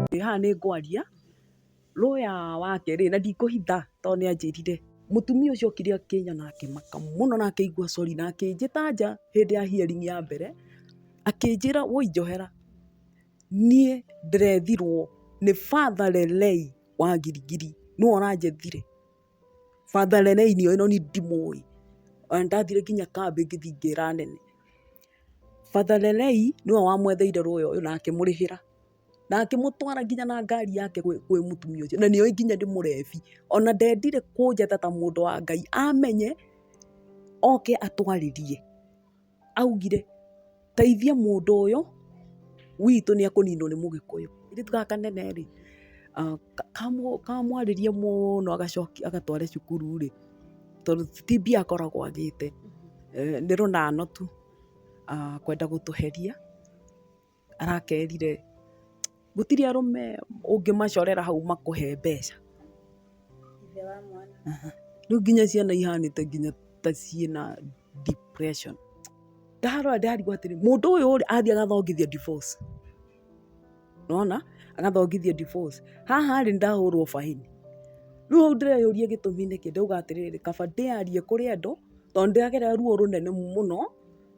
Ndĩ haha nĩ ngwaria lawyer wake rĩ, na ndikũhitha tondũ nĩ anjĩrire. Mũtumia ũcio okire akĩina na akĩmaka mũno na akĩigua sorry na akĩnjĩta nja hĩndĩ ya hearing ya mbere, akĩnjĩra woi njohera, niĩ ndĩrethirwo nĩ Father Lelei wa Gilgil, nĩwe ũranjethire. Father Rene inio ĩno niĩ ndimũĩ, o na ndathire nginya kambĩ ngĩthiĩ ngĩra anene. Father Rene nĩwe wamwetheire lawyer ũyũ na akĩmũrĩhĩra, na akĩmũtwara nginya na ngari yake kwĩ mũtumia ũcio, na nĩoĩ nginya nĩ mũrebi. O na ndendire kũnjata ta mũndũ wa Ngai, amenye oke atwarĩrie. augire, teithia mũndũ ũyũ witũ nĩ ekũninwo nĩ mũgĩkũyũ. Kairĩtu gaka kanene rĩ, kamwarĩrie mũno agatware cukuru rĩ, tondũ ti mbia akoragwo agĩte, nĩ rũnano tu kwenda gũtũheria. arakerire gũtirĩ arũme ũngĩmacorera hau makũhe mbeca. Rĩu nginya ciana ihanĩte nginya ta ciĩna depression. Ndarora ndarigwo atĩrĩ, mũndũ ũyũ rĩ, athiĩ agathongithia divorce. Nĩ wona? Agathongithia divorce. Haha rĩ, nĩ ndahũrwo baĩni. Rĩu hau ndĩreyũria gĩtũmi nĩkĩ, ndauga atĩrĩrĩ, kaba ndĩarie kũrĩ andũ, tondũ nĩ ndĩragerera ruo rũnene mũno.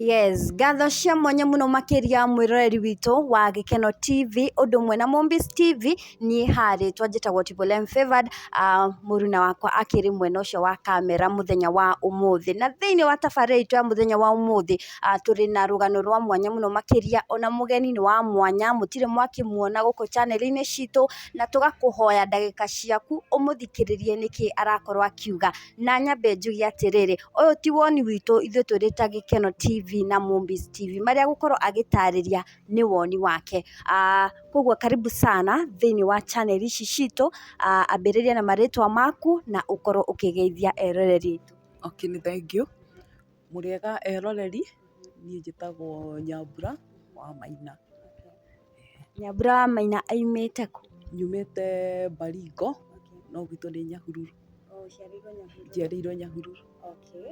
Yes, ngatho cia mwanya mũno makĩria mwĩroreri witũ wa Gĩkeno TV ũndũ ũmwe na Movies TV. niĩ haha rĩtwa njĩtagwo Tipholem Favored, mũruna wakwa akĩrĩ mwena ũcio wa kamera mũthenya wa ũmũthĩ. Na thĩiniĩ wa tabarĩra itũ ya mũthenya wa ũmũthĩ, tũrĩ na rũgano rwa mwanya mũno makĩria, ona mũgeni nĩ wa mwanya, mũtirĩ mwakĩmuona gũkũ chaneli-inĩ citũ, na tũgakũhoya ndagĩka ciaku ũmũthikĩrĩrie nĩkĩ arakorwo akiuga. Na nyambe njuge atĩrĩrĩ, ũyũ ti woni witũ ithuĩ twĩrĩ ta Gĩkeno TV na Mũmbi TV, marĩa agũkorwo agĩtarĩria. nĩ woni wake. Koguo karibu sana thĩiniĩ wa channel ici citũ, ambĩrĩria na marĩtwa maku na ũkorwo ũkĩgeithia eroreri aitũ. Okay nĩ thengiũ. Mũrĩega eroreri, niĩ njĩtagwo Nyambura wa Maina. Nyambura wa Maina aumĩte kũ? Nyumĩte Baringo no gwitũ nĩ Nyahururu. Njiarĩirwo Nyahururu. Okay.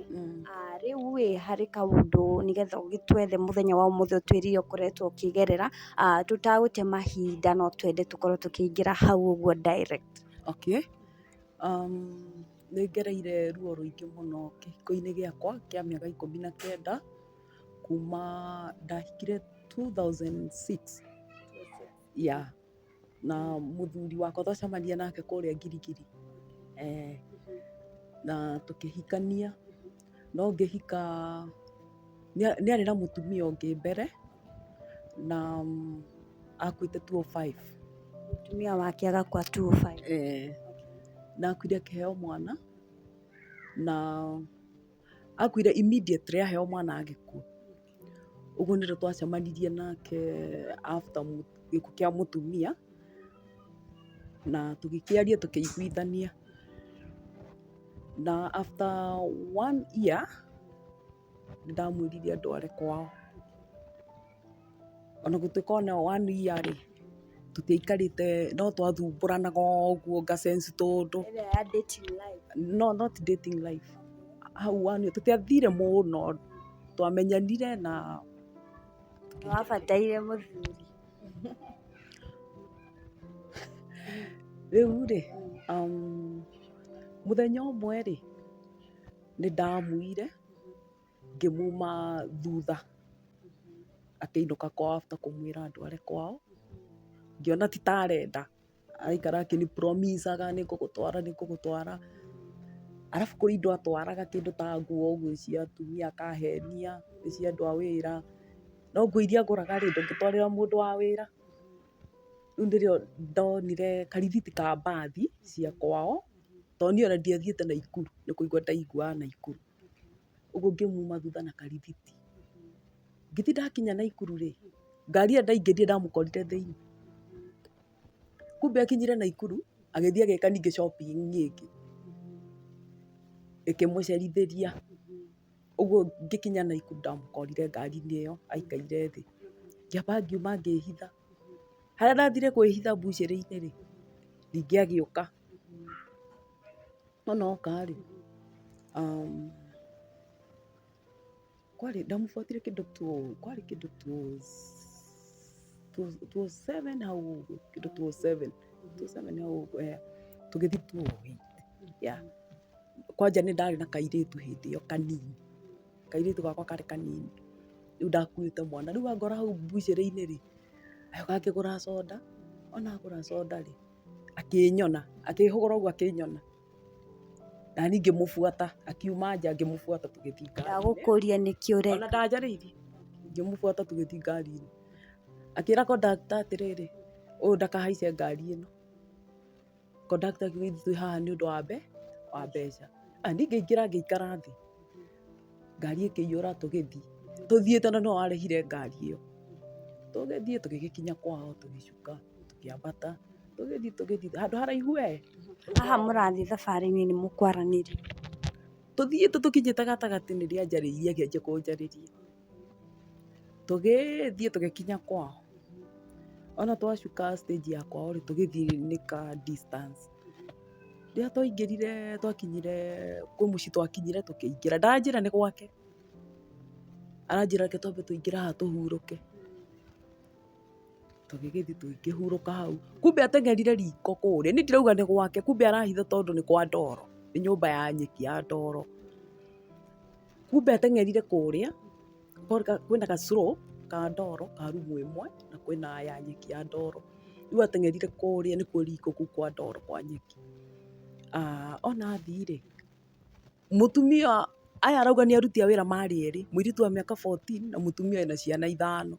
Ah, rĩu ĩ harĩ kaũndũ nĩgetha ũgĩtwethe mũthenya wa ũmũthĩ ũtwĩrie ũkoretwo ũkĩgerera, ah, tũtagũte mahinda no twende tũkorwo tũkĩingĩra hau ũguo direct. Okay. Um, nĩ ngereire ruo rũingĩ mũno kĩhiko-inĩ gĩakwa kĩa mĩaka ikũmi na kenda kuma ndahikire 2006 yeah. na mũthuri wakwa twacemania nake kũrĩa Ngirigiri eh, na tũkĩhikania no ngĩhika nĩa- nĩarĩ na mũtumia ũngĩ mbere na mm, akuĩte 205 Mũtumia wake agakua 205. eh, na akuire akĩheo mwana na akuire immediately aheo mwana agĩkua ũguo nĩrĩo twacemanirie nake after mũ- gĩkuũ kĩa mũtumia na tũgĩkĩaria tũkĩiguithania na after one year nĩndamwĩrire ndware kwao Ona gũtuĩka ona ĩyo one year rĩ, tũtiaikarĩte no twathumbũranaga ũguo nga sense tũndũ. Ĩrĩa ya dating life. No not dating life. Hau one year tũtiathire mũno, twamenyanire na. Nĩ wabataire mũthuri. Rĩu rĩ, mũthenya ũmwe rĩ, nĩ ndamuire. ngĩmuma thutha akĩinũka kwao after kũmwĩra andware kwao, ngĩona ti ta arenda, araikara akĩni promise aga nĩ ngũgũtwara nĩ ngũgũtwara, arabu kũrĩ indo atwaraga kĩndũ ta nguo ũguo cia atumia akahenia, nĩ cia andũ a wĩra, no nguo iria agũraga rĩ ndũngĩtwarĩra mũndũ wa wĩra, rĩu nĩrĩo ndonire karithiti ka mbathi cia kwao, tondũ niĩ ona ndiathiĩte Naikuru, nĩ kũigwa ndaiguaga Naikuru. ũguo ngĩmuma thutha na karibiti. Ngĩthiĩ ndakinya Naikuru rĩ, ngari ĩyo ndaingĩrire ndamũkorire thĩiniĩ. Kumbe akinyire Naikuru, agĩthiĩ agĩka ningĩ shopping ĩngĩ, ĩkĩmũcerithĩria. Ũguo ngĩkinya Naikuru ndamũkorire ngari-inĩ ĩyo aikaire thĩ. Ngĩamba ngiuma ngĩhitha. Harĩa ndathire kwĩhitha mbucĩrĩ-inĩ rĩ, ningĩ agĩũka. No noka rĩ, um, kwarĩ ndamũbuatire kĩndũ tu kwarĩ kĩndũ tu tu seven hau ũguo kĩndũ tu seven tu seven hau ũguo eh, tũgĩthiĩ tu eight yeah. kwanja nĩ ndarĩ na kairĩtu hĩndĩ ĩyo kanini kairĩtu gakwa karĩ kanini rĩu ndakuĩte mwana rĩu angora hau mbucĩrĩ-inĩ rĩ gakĩgũra soda ona agũra soda rĩ akĩnyona, akĩhũgũra ũguo akĩnyona, naniĩ ngĩmũbuata, akiuma nja ngĩmũbuata tũgĩthiĩ ngari-inĩ. Ndagũkũria nĩkĩ ũreka. Ona ndanjarĩirie, ngĩmũbuata tũgĩthiĩ ngari-inĩ. Akĩra kondakta atĩrĩrĩ, ũyũ ndakahaice ngari ĩno. Kondakta akiuga ithuĩ twĩ haha nĩ ũndũ wa wa mbeca. Naniĩ ngĩingĩra ngĩikara thĩ. ngari ĩkĩiyũra tũgĩthiĩ, tũthiĩ tondũ nĩwe warehire ngari ĩyo, tũgĩthiĩ tũgĩgĩkinya kwao tũgĩcuka tũkĩambata tũgĩthiĩ tũgĩthiĩ handũ haraihu wee. Haha mũrathiĩ thabarĩ-inĩ nĩ mũkwaranĩria. Tũthiĩte tũkinyĩte gatagatĩ nĩrĩo anjarĩirie akĩanjia kũnjarĩria. Tũgĩthiĩ tũgĩkinya kwao, ona twacuka stage ya kwao rĩ, tũgĩthiĩ nĩ ka distance. Rĩrĩa twaingĩrire twakinyire kwĩ mũciĩ twakinyire tũkĩingĩra, ndanjĩra nĩ gwake, aranjĩra reke twambe tũingĩre haha tũhurũke. Tũgĩgĩthiĩ tũkĩhurũka hau, kumbe ateng'erire riko kũrĩa, niĩ ndirauga nĩ gwake, kumbe arahitha tondũ nĩ kwa ndoro, nĩ nyũmba ya nyeki ya ndoro. Kumbe ateng'erire kũrĩa, kwĩna ga slope ka ndoro ka rumu ĩmwe, na kwĩna ya nyeki ya ndoro. Rĩu ateng'erire kũrĩa nĩ kũriko kũu kwa ndoro kwa nyeki. Ona athiĩ rĩ, mũtumia ũyũ, aya arauga nĩ aruti a wĩra marĩ erĩ, mũirĩtu wa mĩaka fourteen na mũtumia wĩna ciana ithano.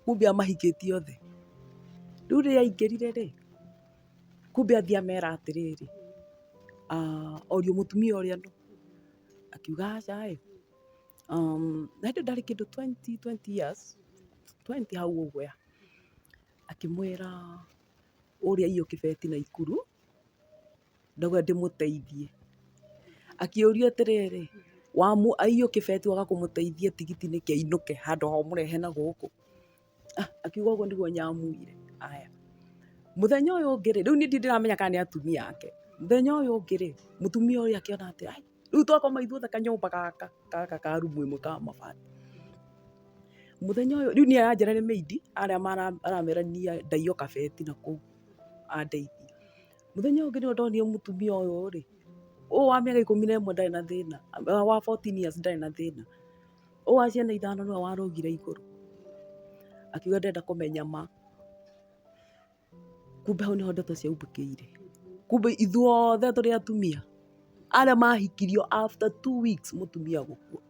Kumbe amahikĩtie othe. Rĩu rĩrĩa aingĩrire rĩ, kumbe athiĩ amera atĩrĩrĩ, orio mũtumia ũrĩa nũ. akiuga aca ĩ um, na hĩndĩ ndarĩ kĩndũ 20, 20 years 20 hau ũguo ya akĩmwĩra ũrĩa iyo kĩbeti na ikuru ndauga ndĩmũteithie akĩũrio atĩrĩrĩ wamu aiyũkĩbeti waga kũmũteithia tigiti nĩkĩ ainũke handũ ha ũmũrehe na gũkũ Ah, akiuga ũguo nĩguo nyamwĩire aya mũthenya ũyũ ũngĩ rĩ rĩu niĩ ndiramenya kana nĩ atumia ake mũthenya ũyũ ũngĩ rĩ mũtumia ũyũ akĩona atĩ ai rĩu twakoma ithuothe kanyũmba gaka gaka ka rumu ĩmwe ka mabati mũthenya ũyũ rĩu niĩ aranjĩra nĩ meidi arĩa aramerania ndaio kabeti na kũu andeithia mũthenya ũngĩ nĩwe ndonire mũtumia ũyũ rĩ ũyũ wa mĩaka ikũmi na ĩmwe ndarĩ na thĩna wa 14 years ndarĩ na thĩna Ũyũ wa ciana ithano nĩwe warũgire igũrũ akiuga ndarenda kũmenya ma. Kumbe hau nĩho ndeto ciaumbũkĩire. Kumbe ithuothe tũrĩ atumia arĩa mahikirio after two weeks mũtumia gũkua.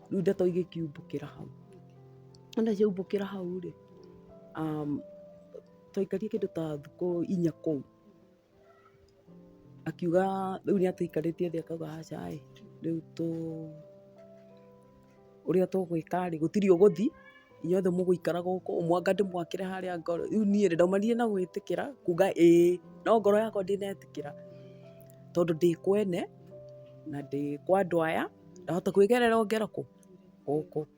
Rĩu ndeto igĩkiumbũkĩra hau. Wona ciaumbũkĩra hau rĩ, twaikarire kĩndũ ta thikũ inya kũu. Akiuga rĩu nĩ atũikarĩtie thĩ akauga aca ĩ, rĩu tũ, ũrĩa tũgwĩka rĩ, gũtirĩ ũgũthi, inyuothe mũgũikara gũkũ, mwanga ndĩmwakĩre harĩa ngorĩ. Rĩu niĩ rĩ, ndaumanire na gwĩtĩkĩra, kuuga ĩĩ. No ngoro yakwa ndĩnetĩkĩra tondũ ndĩ kwene, na ndĩ kwa andũ aya, ndahota kwĩgerera o ngeroko gũkũ.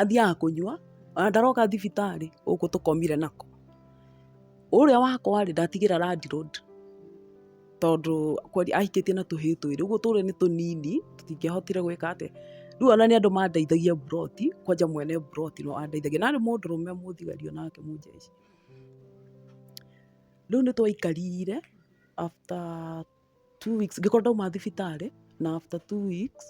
athiaga kũnyua, ona ndaroka thibitarĩ, gũkũ tũkomire nako. Ũrĩa wakwa rĩ, ndatigĩra Landi Rũndi, tondũ kweri ahikĩtie na tũhĩĩ twĩrĩ, ũguo tũrĩa nĩ tũnini, tũtingĩahotire gwĩka atĩa. Rĩu ona nĩ andũ mandeithagia mburoti, kwanja mwene mburoti nĩ we wandeithagia. Na arĩ mũndũrũme mũthigari o nake mũnjeci. Rĩu nĩ twaikarire after two weeks ngĩkorwo ndauma thibitarĩ na after two weeks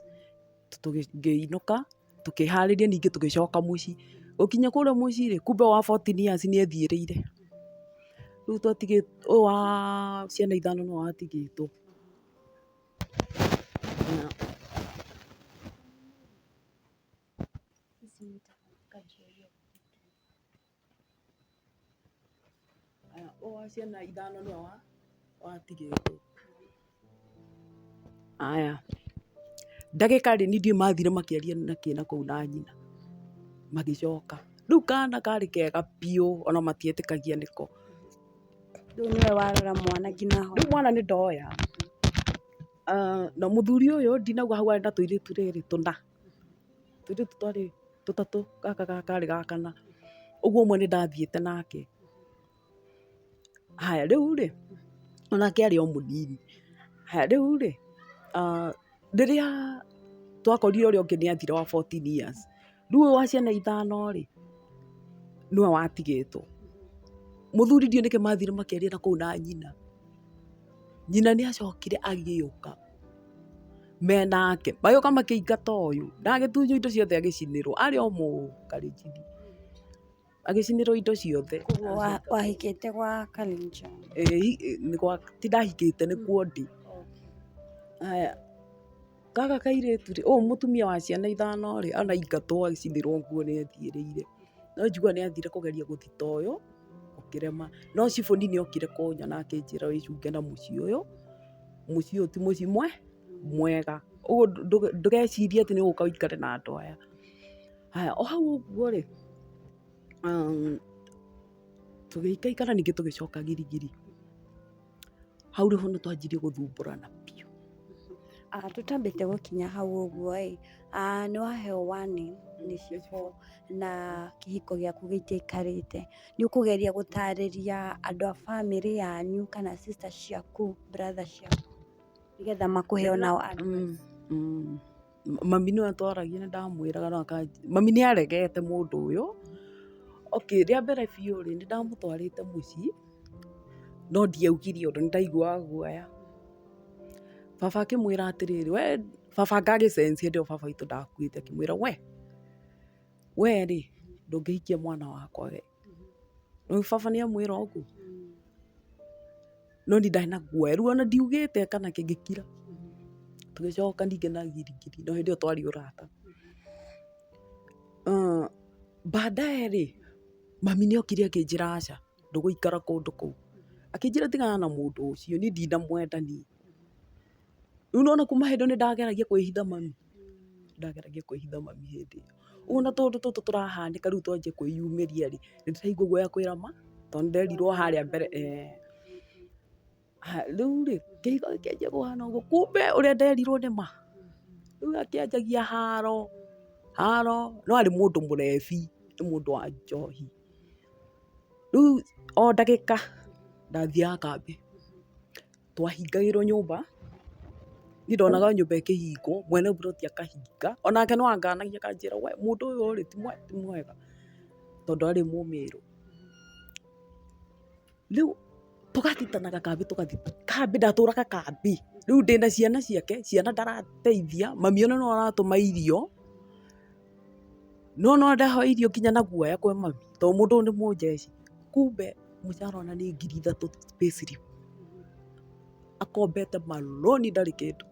ngĩinũka tũkĩharĩria ningĩ tũgĩcoka mũciĩ. Gũkinya kũrĩa mũciĩ rĩ, kumbe wa fourteen years nĩ ethiĩrĩire. Rĩu twatigĩtwo, ũyũ wa ciana ithano nĩwe watigĩtwo. Aya, oa ciana ithano nĩ oa watigĩtwo. Aya, ndagĩka rĩ nĩ ndiũĩ mathire makĩaria na kĩ na kũu na nyina, magĩcoka. Rĩu kana karĩ kega biũ ona matietĩkagia nĩko. Rĩu nĩwe warora mwana nginya ahona. Rĩu mwana nĩ ndoya, na mũthuri ũyũ ndinauga hau arĩ na tũirĩtu rĩrĩ tũna. Tũirĩtu twarĩ tũtatũ, gaka gakarĩ ga kana. Ũguo ũmwe nĩ ndathiĩte nake. Haya rĩu rĩ, o nake arĩ o mũnini. Haya rĩu rĩ, rĩrĩa twakorire ũrĩa ũngĩ nĩ athira wa fourteen years, rĩu ũyũ wa ciana ithano rĩ, nĩwe watigĩtwo. Mũthuri ndiũĩ nĩkĩ mathire makĩaria na kũu na nyina. Nyina nĩ acokire agĩũka. menake magĩũka makĩingata ũyũ na agĩtunywo indo ciothe agĩcinĩrwo arĩ o mũkarinjini agĩcinĩrwo indo ciothe Koguo wa- wahikĩte gwa Kalenjin. Eh, hi- eh, nĩ gwa- ti ndahikĩte nĩ kuo ndĩ Aya, gaka kairĩtu rĩ ũyũ mũtumia wa ciana ithano rĩ anaingatwo agĩcinĩrwo nguo nĩ athiĩrĩire no njiguaga nĩ athire kũgeria gũthita ũyũ ũkĩrema no cibũ nini okire kũnyona akĩnjĩra wĩcunge na mũciĩ ũyũ mũciĩ ũyũ ti mũciĩ mwega, ũguo ndũgecirie atĩ nĩ ũgũka ũikare na andũ aya. Haya, o hau ũguo rĩ, tũgĩikaikara ningĩ tũgĩcoka girigiri, hau nĩho twanjirie gũthumbũrana biũ. Tũtambĩte gũkinya hau ũguo ĩ, nĩ waheo warning nĩ cibũ na kĩhiko gĩaku gĩtiaikarĩte. nĩ ũkũgeria gũtarĩria andũ a bamĩrĩ yanyu kana sister ciaku, brother ciaku nĩgetha makũhe o nao advice. Mami nĩwe twaragia nĩ ndamwĩraga no akanjigua, mami nĩ aregete mũndũ ũyũ. Okay, rĩa mbere biũ rĩ, nĩ ndamũtwarĩte mũciĩ, no ndiaugire ũndũ, nĩ ndaiguaga guoya. Baba akĩmwĩra atĩrĩrĩ, we, baba ngagĩ sense hĩndĩ ĩyo baba witũ ndakuĩte, akĩmwĩra we, Wee rĩ, ndũngĩhikia mwana wakwa wee. Nĩũĩ baba nĩamwĩra ũguo? No niĩ ndarĩ na guoya, rĩu ona ndiugĩte kana kĩngĩkira. Tũgĩcoka ningĩ na giringiri, no hĩndĩ ĩyo twarĩ ũrata. Baadaye rĩ, mami nĩokire akĩnjĩra aca, ndũgũikara kũndũ kũu. Akĩnjĩra tigana na mũndũ ũcio, niĩ ndinamwenda niĩ. Rĩu nĩwona kuma hĩndĩ ĩyo nĩndageragia kwĩhitha mami, nĩndageragia kwĩhitha mami hĩndĩ ĩyo. Rĩu ona tũũndũ tũtũ tũrahanĩka rĩu twanjia kwĩyumĩria-rĩ, nĩndĩraigua guoya kwĩra ma, tondũ nĩnderirwo harĩa mbere eeh. Haya rĩu-rĩ, kĩhiko gĩkĩanjia kũhana ũguo, kumbe ũrĩa nderirwo nĩ ma. Rĩu akĩanjagia haro, haro, no arĩ mũndũ mũrebi, nĩ mũndũ wa njohi. Rĩu o ndagĩka ndathiaga kambĩ. twahingagĩrwo nyũmba, niĩ ndonaga nyũmba ĩkĩhingwo, mwene mburoti akahinga, o nake no anganagia akanjĩra we mũndũ ũyũ rĩ ti mwega, tondũ arĩ mũmĩrũ. Rĩu tũgacitanaga kambĩ tũgathi kambĩ, ndatũraga kambĩ, rĩu ndĩna ciana ciake, ciana ndarateithia, mami ona nĩwe ũratũma irio. Nĩ wona ndahoeirio nginya na guoya kwĩ mami tondũ mũndũ ũyũ nĩ mũnjeci. Kumbe mũcara ona nĩ ngiri ithatũ pay slip. Akombete ma loan ndarĩ kĩndũ.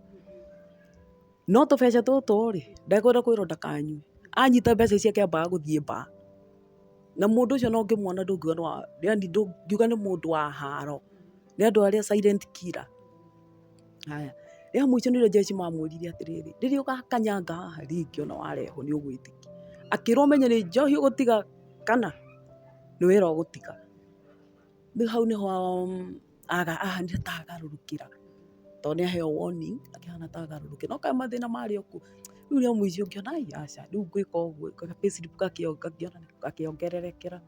No tũbeca tũtũ rĩ, ndekwenda kwĩrwo ndakanyue. Anyita mbeca ici akĩambaga gũthiĩ bar. Na mũndũ ũcio ona ũngĩmwona ndũngiuga nĩ wa, yaani ndũngiuga nĩ mũndũ wa haro. Nĩ andũ arĩa silent killer. Haya, rĩrĩa mũico nĩrĩo Jesu mamwĩrire atĩrĩrĩ, rĩrĩa ũgakanyanga haha rĩngĩ ona warehwo nĩ ũgwĩtĩkia. Akĩrwo ũmenye nĩ njohi ũgũtiga kana nĩ wĩra ũgũtiga. Rĩu hau nĩho ahanire ta agarũrũkĩra tondũ nĩ aheo warning akĩhana ta agarũrũkĩra. No kaĩ mathĩna marĩ o kũu. Rĩu rĩa mũico ngĩona ai aca rĩu ngwĩka ũguo ka payslip gakĩongererekera.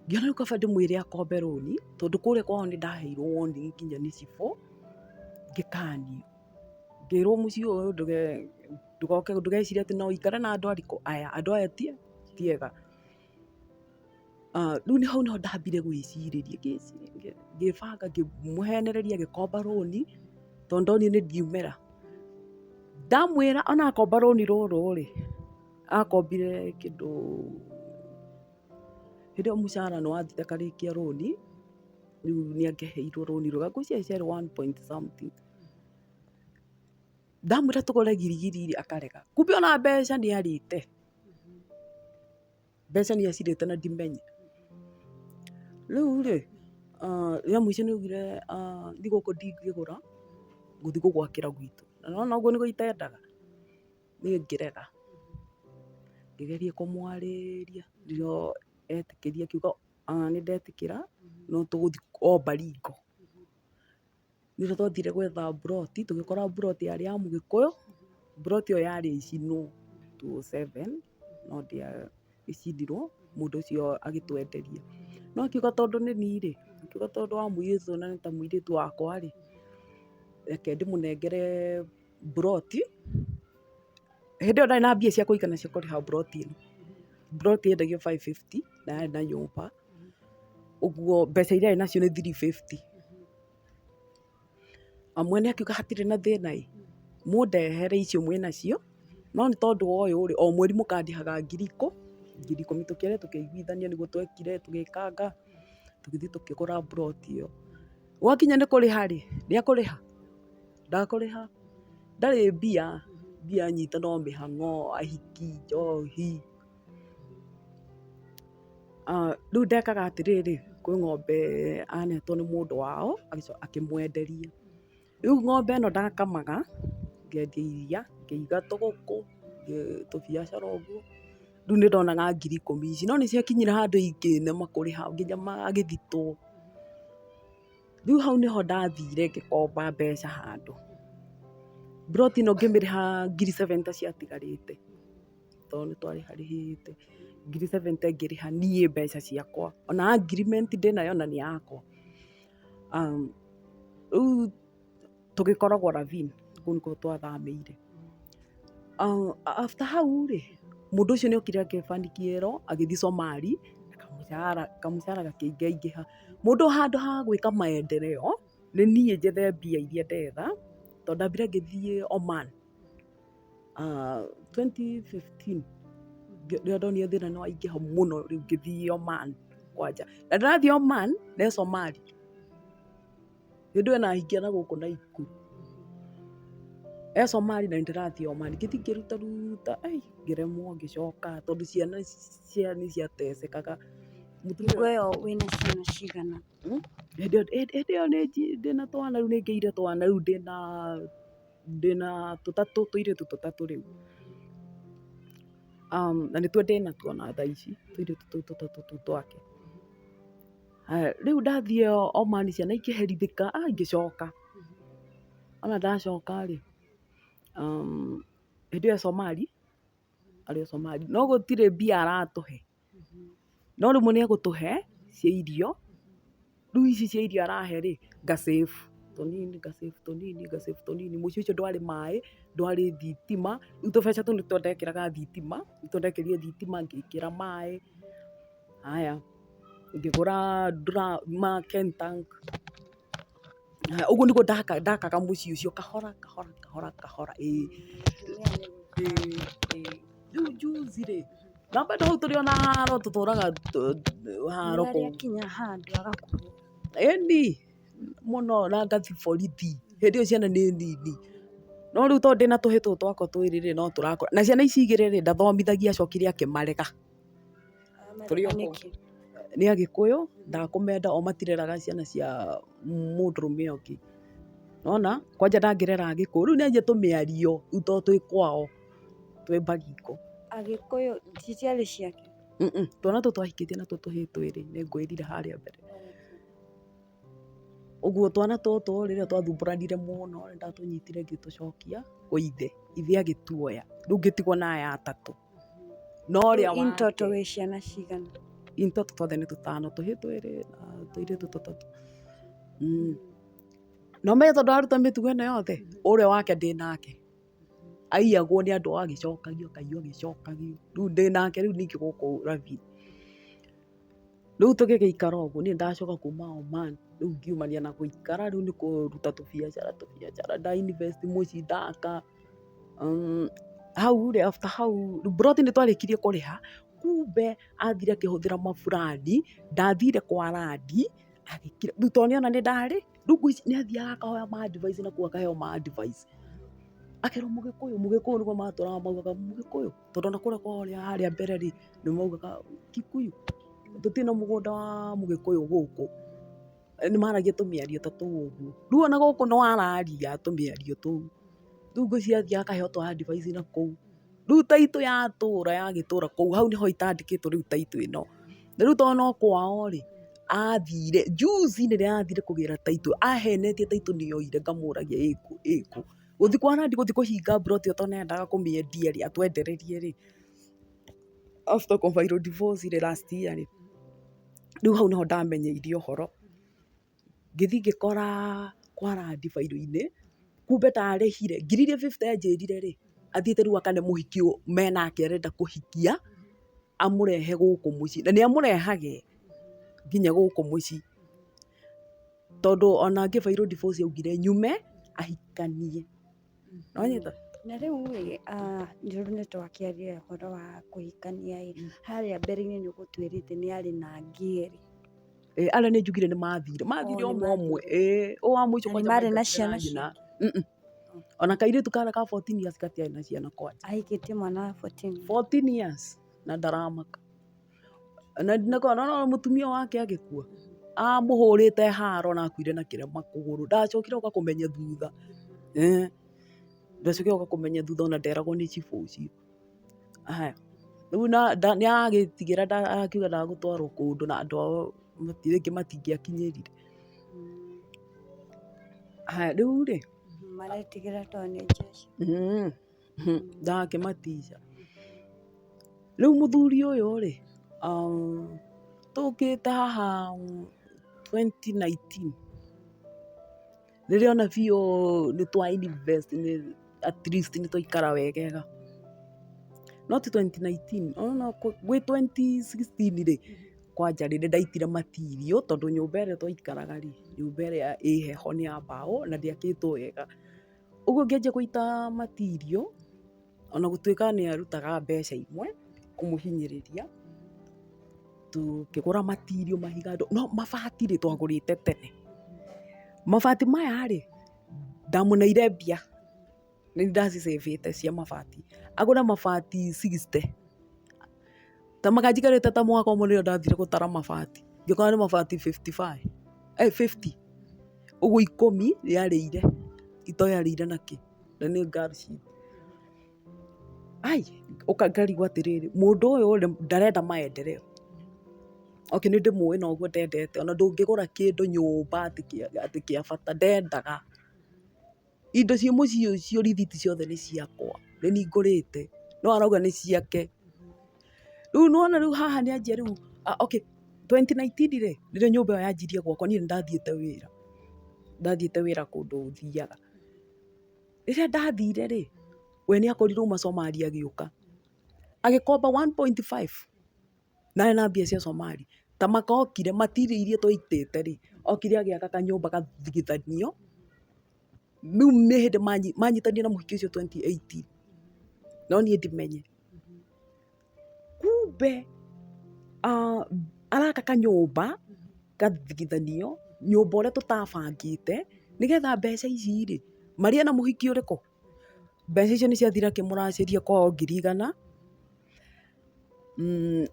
Ngĩona rĩu kaba ndĩmwĩre akombe rũni, tondũ kũrĩa kwao nĩ ndaheirwo warning nginya nĩ cibũ, ngĩkanio. Ngĩrwo mũciĩ ũyũ ndũgoke ndũgecirie atĩ no ũikare na andũ arikũ aya, andũ aya ti ti ega. Rĩu nĩ hau nĩho ndambire gwĩcirĩria ngĩcirĩria ngĩbanga ngĩmũhenereria agĩkomba rũni, tondũ ndonire nĩ ndiumĩra. Ndamwĩra ona akomba rũni rũrũ rĩ. Akombire kĩndũ, hĩndĩ ĩyo mũcara nĩ wathire akarĩkia rũni, rĩu nĩ angĩaheirwo rũni rũga, ngwĩciria ciarĩ one point something. Ndamwĩra tũgũre girigiri rĩ, akarega. Kumbe ona mbeca nĩ arĩte. Mbeca nĩ acirĩte na ndimenye. Rĩu rĩ, rĩa mũico nĩ augire thigũkũ ndingĩgũra, ngũthi gũgwakĩra gwitũ. Na nĩ wona ũguo nĩguo itendaga. Niĩ ngĩrega, ngĩgeria kũmwarĩria no etĩkĩria akiuga ona nĩ ndetĩkĩra no tũgũthiĩ o Baringo. Nĩho twathire gwetha mburoti, tũgĩkora mburoti yarĩ ya mũgĩkũyũ, mburoti ĩyo yarĩ ĩcinwo two o seven no ndĩacindirwo, mũndũ ũcio agĩtwenderia. No akiuga tondũ nĩ niĩ rĩ, akiuga tondũ wa mũirĩtu ũyũ na nĩ ta mũirĩtu wakwa rĩ, reke ndĩmũnengere. mburoti, hĩndĩ ĩyo ndarĩ na mbia cia kũigana cia kũrĩha mburoti ĩno. Mburoti yendagio five fifty na yarĩ na nyũmba, ũguo mbeca iria arĩ nacio nĩ three fifty. Na mwene akiuga hatirĩ na thĩna ĩ, mũndehere icio mwĩ nacio, no nĩ tondũ wa ũyũ rĩ, o mweri mũkandĩhaga ngiri ikũ, ngiri ikũmi tũkĩarĩ tũkĩiguithania nĩguo twekire tũgĩkanga, tũgĩthiĩ tũkĩgũra mburoti ĩyo. Gwakinya nĩ kũrĩha rĩ, rĩa kũrĩha, Ndakũrĩha ndarĩ mbia, mbia nyitũ no mĩhang'o, ahiki, njohi. Rĩu ndekaga atĩrĩrĩ, kwĩ ng'ombe anetwo nĩ mũndũ wao akĩmwenderia. Rĩu ng'ombe ĩno ndakamaga, ngendia iria, ngĩiga tũgũkũ, tũbiacara ũguo. Rĩu nĩ ndonaga ngiri ikũmi ici. No nĩ ciakinyire handũ ingĩnema kũrĩha nginya magĩthitwo. Rĩu hau nĩho ndathire ngĩkomba mbeca handũ, mburoti ĩno ngĩmĩrĩha ngiri seven ta ciatigarĩte, tondũ nĩ twarĩharĩhĩte, ngiri seven ta ngĩrĩha niĩ mbeca ciakwa, ona agreement ndĩnayo na nĩ yakwa. Rĩu... tũgĩkoragwo ravine kũu nĩkuo twathamĩire. After hau rĩ, mũndũ ũcio nĩ okire akĩbani kĩero agĩthiĩ Somali na kamũcara, kamũcara gakĩingaingĩha. Mũndũ handũ ha gwĩka maendereo, nĩ niĩ njethe mbia iria ndetha, tondũ ndambire ngĩthiĩ Oman twenty fifteen rĩrĩa ndonire thĩna nĩ waingĩha mũno rĩu ngĩthiĩ Oman kwanja. Na ndĩrathiĩ Oman, nĩ Somali. Hĩndĩ ĩyo ĩnahingĩa na gũkũ Naikuru. E-Somali na nĩndĩrathiĩ Omani, ngĩthiĩ ngĩrutaruta ai ngĩremwo ngĩcoka tondũ ciana ciao nĩciatecekaga. Hingo ĩyo wĩna ciana cigana? Hĩndĩ ĩyo hĩndĩ ĩyo ndĩna twana rĩu nĩngĩire twana rĩu ndĩna ndĩna tũtatũ tũirĩtu tũtatũ rĩu. Na nĩtuo ndĩnatuo ona thaa ici, tũirĩtu tũu tũtatũ tũu twake. Haya, rĩu ndathiĩ Oman ciana ikĩherithĩka, ah, ngĩcoka. Ona ndacoka-rĩ, um, hĩndĩ ĩyo Somali, arĩ o Somali, no gũtirĩ mbia aratũhe. No rĩmwe nĩegũtũhe cia irio, rĩu ici cia irio arahe-rĩ, nga save tũnini, nga save tũnini, nga save tũnini. Mũciĩ ũcio ndwarĩ maĩ, ndwarĩ thitima, rĩu tũbeca tũu nĩtuo ndekĩraga thitima, nĩtuo ndekĩrire thitima, ngĩkĩra maĩ, haya. ngĩgũra ma kentank, ũguo nĩguo ndakaga mũciĩ ũcio kahora kahora kahora kahora ĩĩ rĩu njuzi rĩ na bado hau tũrĩ ona haro tũtũraga haro kũu ĩni mũno na ngathi borithi hĩndĩ ĩyo ciana nĩ nini no rĩu tondũ ndĩna tũhĩĩ tũtũ twakwa twĩrĩ rĩ no tũrakũra na ciana ici igĩrĩ rĩ ndathomithagia acokire akĩmarega. nĩ agĩkũyũ ndakũmenda o matireraga ciana cia mũndũrũme ũngĩ nĩwona kwanja ndangĩrera agĩkũyũ rĩu nĩanjia tũmĩario rĩu tondũ twĩ kwao twĩ bagiko agĩkũyũ ici ciarĩ ciake? twana tũu twahikĩtio na tũtũ twĩrĩ nĩngwĩrire harĩa mbere. Ũguo twana tũtũ rĩrĩa twathumbũranire mũno nĩ ndatũnyitire ngĩtũcokia kwĩ ithe, ithe agĩtuoya, rĩu ngĩtigwo na aya atatũ. No ũrĩa wa kerĩ. In total wĩ ciana cigana? In total twothe nĩ tũtano, tũhĩĩ twĩrĩ na tũirĩtu tũtatũ. No ũmenye tondũ araruta mĩtugo ĩno yothe, ũrĩa wake ndĩ nake. aiyagwo nĩ andũ ao agĩcokagio akaiywo agĩcokagio, rĩu ndĩ nake rĩu ningĩ gũkũ Rugby, rĩu tũgĩgĩikara ũguo niĩ nĩndacoka kuma Oman, rĩu ngiumania na gũikara rĩu nĩ kũruta tũbiacara tũbiacara nda invest mũciĩ ndaka, hau rĩ after hau rĩu mburoti nĩtwarĩkirie kũrĩha, kumbe athire akĩhũthĩra maburandi ndathire kwa randi, rĩu tondũ nĩona nĩndarĩ. Ndungũ ici nĩ athiaga akahoya ma advice na kũu akaheo ma advice. Akerwo Mũgĩkũyũ, Mũgĩkũyũ nĩguo matũraga maugaga Mũgĩkũyũ, tondũ ona kũrĩa kwao harĩa mbere rĩ, nĩ maugaga Kikuyu, tũtirĩ na mũgũnda wa Mũgĩkũyũ gũkũ. Nĩ maragia tũmĩario ta tũu ũguo. Rĩu ona gũkũ no araria tũmĩario tũu. Rĩu ngwĩciria athiaga akaheo twa advice na kũu. Rĩu title ya tũũra ya gĩtũũra kũu hau nĩho itandĩkĩtwo rĩu title ĩno. Na rĩu tondũ no kwao rĩ, athire, juzi rĩrĩa athire kũgĩra title, ahenetie title nĩ yoire ngamũragia ĩ kũ, ĩ kũ. Gũthiĩ kwa Nandi gũthiĩ kũhinga plot ĩyo tondũ nĩ arendaga kũmĩendia rĩ, atwendererie rĩ, after kũ file divorce rĩ, last year rĩ, rĩu hau nĩho ndamenyeire ũhoro. ngĩthiĩ ngĩkora kwara ndibairu-inĩ, kumbe ndarĩhire, ngiri iria fifty anjĩrire rĩ, athiĩte rĩu akane mũhiki menake arenda kũhikia, amũrehe gũkũ mũciĩ, na nĩ amũrehage nginya gũkũ mũciĩ, tondũ ona ngĩbairwo divorce augire nyume ahikanie. nĩwanyita? Na rĩu rĩ, rĩu nĩ twakĩaria ũhoro wa kũhikania ĩ, harĩa mbere-inĩ nĩ ũgũtwĩrĩte nĩ arĩ na angĩerĩ. Ĩĩ arĩa nĩ njugire nĩ mathire, mathire ũmwe ũmwe, ĩĩ ũyũ wa mũico kwanja maarĩ na ciana ciao? Ona kairĩtu kara ka fourteen years gatiarĩ na ciana kwanja. Ahikĩtie mwana wa fourteen? Fourteen years na ndaramaka. Na ndinakorwo, na nĩwona mũtumia wake agĩkua, amũhũrĩte haro na akuire na kĩrema kũgũrũ, ndacokire oka kũmenya thutha, eeh, ndacokire oka kũmenya thutha ona nderagwo nĩ cibũ ũcio. Aya, rĩu na nda nĩaragĩtigĩra nda akiuga ndagũtwarwo kũndũ na andũ ao mati rĩngĩ matingĩakinyĩrire. Aya, rĩurĩ, Maretigĩra tondũ nĩ Jesũ. mmh. Ndakĩmaticia. Rĩu mũthuri ũyũ rĩ, tũkĩte haha twenty nineteen, rĩrĩa ona biũ nĩ twa invest at least nĩ twaikara wegega, not twenty nineteen, gwĩ twenty sixteen rĩ, kwanja nĩ ndaitire material tondũ nyũmba ĩrĩa twaikaraga rĩ, nyũmba ĩrĩa ĩ heho nĩ ya mbaũ na ndĩakĩtwo wega. Ũguo ũngĩanjia gũita material, ona gũtuĩka nĩ arutaga mbeca imwe kũmũhinyĩrĩria, tũkĩgũra material, mahiga, no mabati rĩ, twagũrĩte tene. Mabati maya rĩ, ndamũneire mbia, nĩ ndĩracicĩbĩte cia mabati. Agũre mabati sixty. Ta mwaka njikarĩte ta mwaka ũmwe rĩrĩa ndathire gũtara mabati, ngĩkora nĩ mabati fifty five, ĩ fifty, ũguo ikũmi rĩarĩire, itoĩ arĩire na kĩ? Na nĩ ngari citũ. Aii, ũka ngarigwo atĩrĩrĩ, mũndũ ũyũ rĩ, ndarenda maendereo. Okay nĩ ndĩmũĩ na ũguo ndendete, ona ndũngĩgũra kĩndũ nyũmba atĩ kĩa bata, ndendaga. Indo ciĩ mũciĩ ũcio rĩthiti ciothe nĩ ciakwa, nĩ niĩ ngũrĩte, no arauga nĩ ciake. Rĩu nĩ wona rĩu haha nĩ anjia rĩu, okay, twenty nineteen rĩ, rĩrĩa nyũmba ĩyo yanjirie gwakwo niĩ nĩ ndathiĩte wĩra, ndathiĩte wĩra kũndũ thiaga. Rĩrĩa ndathire rĩ, we nĩ akorirwo uma Somali agĩũka, agĩkomba one point five. na arĩ na mbia cia Somali, kamaka okire, material iria twaitĩte rĩ, okire agĩaka kanyũmba gathigithanio, rĩu nĩ hĩndĩ manyitanire na mũhiki ũcio twenty eighteen, no niĩ ndimenye, kumbe araka kanyũmba gathigithanio, nyũmba ũrĩa tũtabangĩte, nĩgetha mbeca ici rĩ, marĩe na mũhiki ũrĩkũ? Mbeca icio nĩ ciathira akĩmũracĩria kwa o ngiri igana,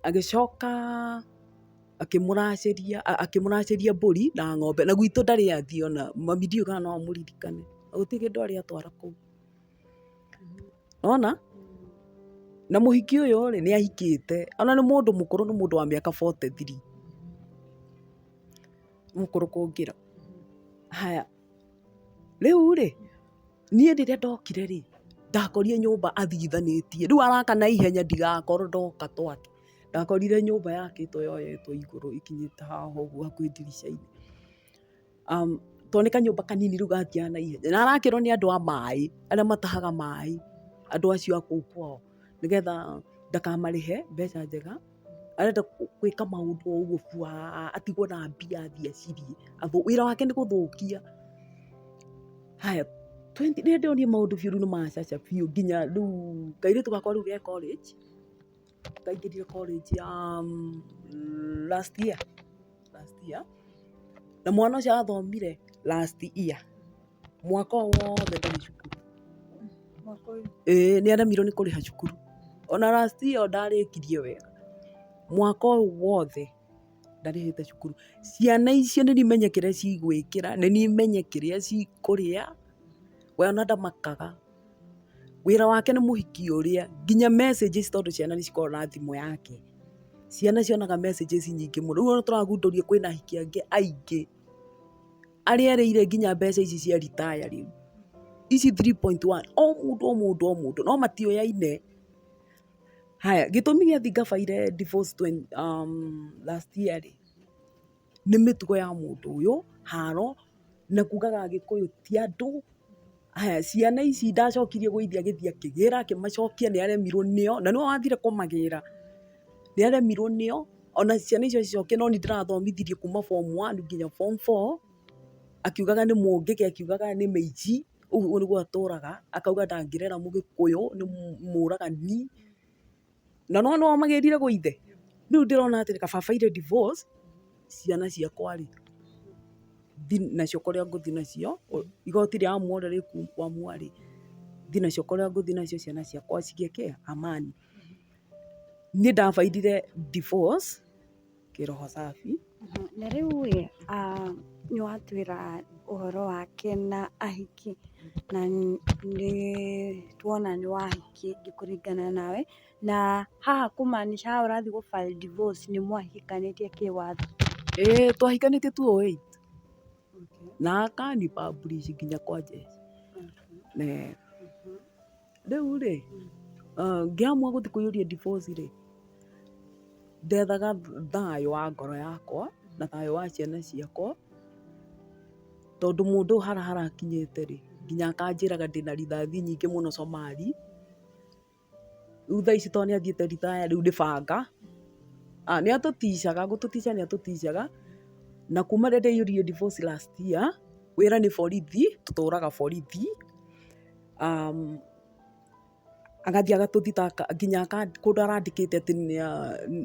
agĩcoka akĩmũracĩria akĩmũracĩria mbũri na ng'ombe. Na gwitũ ndarĩ athiĩ ona, mami ndiũĩ kana no amũririkane. Na gũtirĩ kĩndũ arĩ atwara kũu. Nĩ wona? Na mũhiki ũyũ rĩ, nĩ ahikĩte. Ona nĩ mũndũ mũkũrũ nĩ mũndũ wa mĩaka forty three. Nĩ mũkũrũ kũngĩra. Haya. Rĩu rĩ, niĩ rĩrĩa ndokire rĩ, ndakorire nyũmba athithanĩtie. Rĩu araka na ihenya ndigakorwo ndoka twake. Ndakorire nyũmba yakĩtwo yoyetwo igũrũ ĩkinyĩte haha ũguo hakuhĩ ndirica-inĩ. To nĩ kanyũmba kanini rĩu gathiaga na ihenya. Na arakĩrwo nĩ andũ a maĩ, arĩa matahaga maĩ, andũ acio a kũu kwao, nĩgetha ndakamarĩhe mbeca njega. arenda gwĩka maũndũ o ũguo bwaa, atigwo na mbia athiĩ acirĩe, wĩra wake nĩ gũthũkia. Haya, twendi, rĩrĩa ndĩronire maũndũ biũ rĩu nĩ macaca biũ nginya rĩu, kairĩtu gakwa rĩu ge college, kaingĩrire college ya last year. last year na mwana ũcio athomire last year mwaka ũyũ wothe ndarĩ cukuru mwaka ũyũ ĩĩ nĩ aremirwo nĩ kũrĩha cukuru ona last year ndarĩkirie wega mwaka ũyũ wothe ndarĩhĩte cukuru ciana icio nĩ imenye kĩrĩa cigwĩkĩra nĩ imenye kĩrĩa cikũrĩa we ona ndamakaga Wĩra wake nĩ mũhiki ũrĩa nginya messages tondũ ciana nĩ cikoragwo na thimũ yake. Ciana cionaga messages nyingĩ mũno. Rĩu ona tũragundũria kwĩna ahiki angĩ aingĩ arĩa erĩire nginya mbeca ici cia retire rĩu. Ici three point one o mũndũ o mũndũ o mũndũ no matioyaine. Haya gĩtũmi gĩathi ngabaire divorce last year rĩ. nĩ mĩtugo ya mũndũ ũyũ, haro, na kugaga agĩkũyũ ti andũ, haya ciana ici ndacokirie gũithia gĩthii akĩgĩra akĩmacokia nĩ aremirwo nĩo, na nĩwe wathire kũmagĩra, nĩ aremirwo nĩo, ona ciana icio acicokia no niĩ ndĩrathomithirie kuuma form one nginya form four, akiugaga nĩ mũngĩke, akiugaga nĩ mĩici, ũguo nĩguo atũraga, akauga ndangĩrera mũgĩkũyũ, nĩ mũragani. Na nĩ wona ũrĩa magĩrire gwĩ ithe? Rĩu ndĩrona atĩrĩ kaba baire divorce, ciana ciakwa rĩ, thiĩ nacio kũrĩa ngũthiĩ nacio, igoti rĩa amu othe rĩkuamua rĩ, thiĩ nacio kũrĩa ngũthiĩ nacio ciana ciakwa cigĩe kĩĩ? Amani. Niĩ ndabairire divorce. kĩroho safi. Na rĩu ĩ nĩ watwĩra ũhoro wake na ahiki na nĩ twona nĩ wahiki kũringana nawe, na haha kũ maanisha haha ũrathiĩ gũ file divorce nĩ mwahikanĩtie kĩwatho? Ĩĩ twahikanĩtie tu ũĩ. na akani publish nginya kwa Jesu na rĩu rĩ ngĩamua gũthiĩ kũiyũria ndiboci rĩ ndethaga thayũ wa ngoro yakwa na thayũ wa ciana ciakwa tondũ mũndũ hara harakinyĩte rĩ nginya akanjĩraga ndĩna rithathi nyingĩ mũno Somali. Rĩu thaa ici tondũ nĩ athiĩte ritaya rĩu nĩ banga, nĩ atũticaga, gũtũtica nĩ atũticaga, na kuma rĩrĩa ndaiyũririe ndiboci last year, wĩra nĩ borithi, tũtũraga borithi, agathiĩ agatũthita nginya kũndũ arandĩkĩte atĩ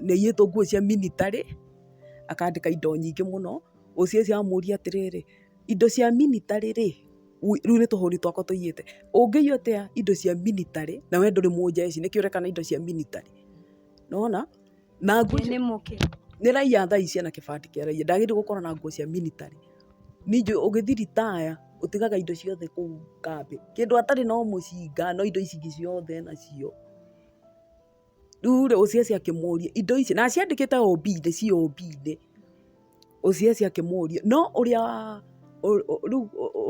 nĩ aiyĩtwo nguo cia minitarĩ, akandĩka indo nyingĩ mũno, ũcio ũcio amũria atĩrĩrĩ, indo cia minitarĩ rĩ? rĩu nĩ tũhũri twakwa tũiyĩte. Ũngĩiya atĩa indo cia miritarĩ na we ndũrĩ mũnjeci, nĩkĩo ũreka na indo cia miritarĩ. Nĩ wona? Na nguo icio. Nĩ mũkĩ? Nĩ raiya thaa ici ena kĩbandĩ kĩa raiya. Ndagĩrĩirwo gũkorwo na nguo cia miritarĩ. Ningĩ ũgĩthi ritaya, ũtigaga indo ciothe kũu kambĩ. Kĩndũ atarĩ no mũcinga, no indo ici ingĩ ciothe enacio. Rĩu rĩ, Osiasi akĩmũria, indo ici, na aciandĩkĩte o mbi-inĩ, ci o mbi-inĩ. Osiasi akĩmũria, no ũrĩa rĩu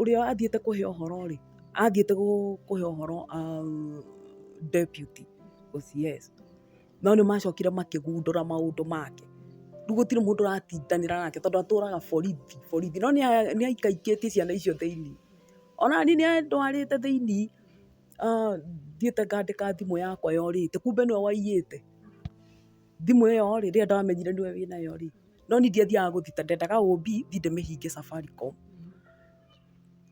ũrĩa athiĩte kũhe ũhoro rĩ, athiĩte kũhe ũhoro deputy OCS. No nĩ macokire makĩgundũra maũndũ make. Rĩu gũtirĩ mũndũ ũratindanĩra nake tondũ atũraga borithi borithi. No nĩ aikaikĩtie ciana icio thĩiniĩ. Ona niĩ nĩ andwarĩte thĩiniĩ. thiĩte ngandĩka thimũ yakwa yorĩte, kumbe nĩwe waiyĩte. Thimũ ĩyo rĩ, rĩrĩa ndamenyire nĩwe wĩ nayo rĩ, no niĩ ndiathiaga gũthita, ndendaga OB thiĩ ndĩmĩhinge Safaricom.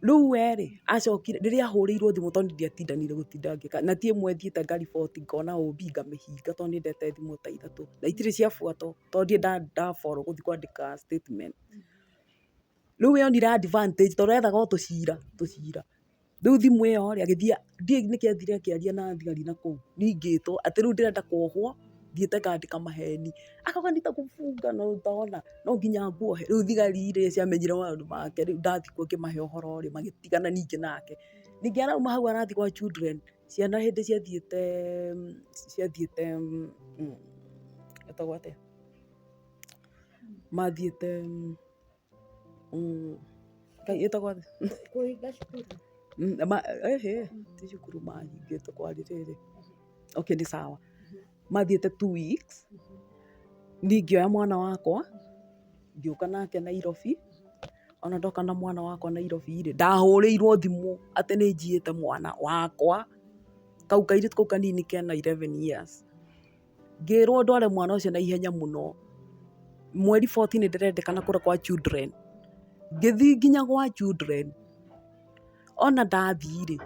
Rĩu we rĩ, acokire, rĩrĩa ahũrĩirwo thimũ tondũ niĩ ndiatindanire gũtinda ngĩka, na ti ĩmwe thiĩte ngariboti ngona OB ngamĩhinga tondũ nĩ ndete thimũ ta ithatũ. Na itirĩ ciabuatwo tondũ ndirĩ nda nda follow gũthi kwandĩka statement. Rĩu we onire advantage tondũ ethaga o tũcira tũcira. Rĩu thimũ ĩyo rĩ, agĩthiĩ, ndiũĩ nĩkĩ athire akĩaria na thigari na kũu, ningĩtwo, atĩ rĩu ndĩrenda kwohwo, thiĩte ngandĩka maheni. Akauga nĩ ta kũbunga na ũtona, no nginya ngwohe. Rĩu thigari rĩ, ciamenyire maũndũ make rĩ, ndathiĩ kuo ngĩmahe ũhoro rĩ, magĩtigana ningĩ nake. Ningĩ arauma hau arathiĩ gwa children, ciana hĩndĩ ciathiĩte ciathiĩte ĩtagwo atĩa? Mathiĩte... Mm. Ngai ĩtagwo thĩ. Kũhinga cukuru. Mm, ma, ehe, ti cukuru mahingĩte kwa rĩrĩrĩ. Okay, nĩ sawa. Mathiĩte two weeks, niĩ ngĩoya mwana wakwa, ngĩũka nake Nairobi, ona ndoka na mwana wakwa Nairobi-rĩ, ndahũrĩirwo thimũ atĩ nĩ njiyĩte mwana wakwa, kau kairĩtu kau kanini kena eleven years. Ngĩrwo ndware mwana ũcio na ihenya mũno, mweri fourteen ndĩrendekana kũrĩa kwa children. Ngĩthiĩ nginya gwa children, ona ndathiĩ rĩ,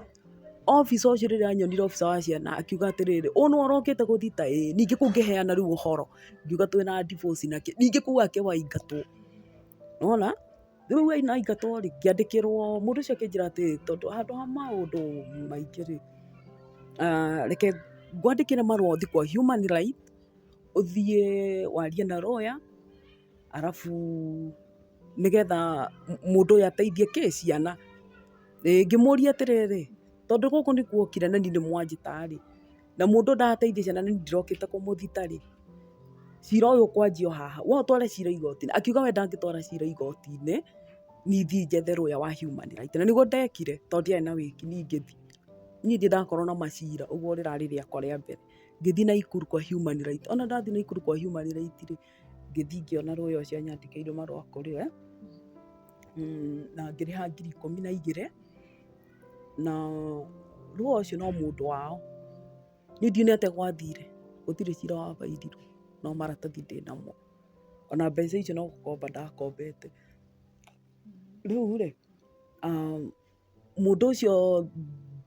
officer ũcio rĩrĩa anyonire officer wa ciana akiuga atĩrĩrĩ, ũyũ nĩwe ũrokĩte gũthita ĩĩ? Ningĩ kũu ngĩheana rĩu ũhoro, ngiuga twĩna divorce na kĩ, ningĩ kũu ake waingatwo. Nĩ wona? Rĩu wee no aingatwo rĩ, ngĩandĩkĩrwo, mũndũ ũcio akĩnjĩra atĩrĩ, tondũ handũ ha maũndũ maingĩ rĩ, reke ngwandĩkĩre marũa ũthiĩ kwa Human Right, ũthiĩ warie na lawyer, arabu nĩgetha mũndũ ũyũ ateithie kĩ? Ciana. Ngĩmũria atĩrĩrĩ, tondũ gũkũ nĩkuo okire na niĩ nĩ mwanjĩta rĩ. na mũndũ ndateithia ciana na niĩ ndĩrokĩte kũmũthita rĩ, cira ũyũ ũkwanjia o haha, we ũtware cira igoti-inĩ, akiuga we ndangĩtwara cira igoti-inĩ, niĩ thiĩ njethe lawyer wa human rights, na nĩguo ndekire, tondũ ndiarĩ na wĩki, niĩ ngĩthiĩ, niĩ ndirĩ ndakorwo na macira, ũguo rĩrarĩ rĩakwa rĩa mbere, ngĩthiĩ Naikuru kwa human rights, ona ndathiĩ Naikuru kwa human rights rĩ, ngĩthiĩ ngĩona lawyer ũcio anyandĩkĩire marũa kũrĩ we, na ngĩrĩha ngiri ikũmi na igĩrĩ. na Ruo ũcio no mũndũ wao, niĩ ndionete gwathire, gũtirĩ cira wa baindirwo, no maratathi ndĩ namo, ona mbeca icio no gũkomba ndakombete, rĩu rĩ, mũndũ ũcio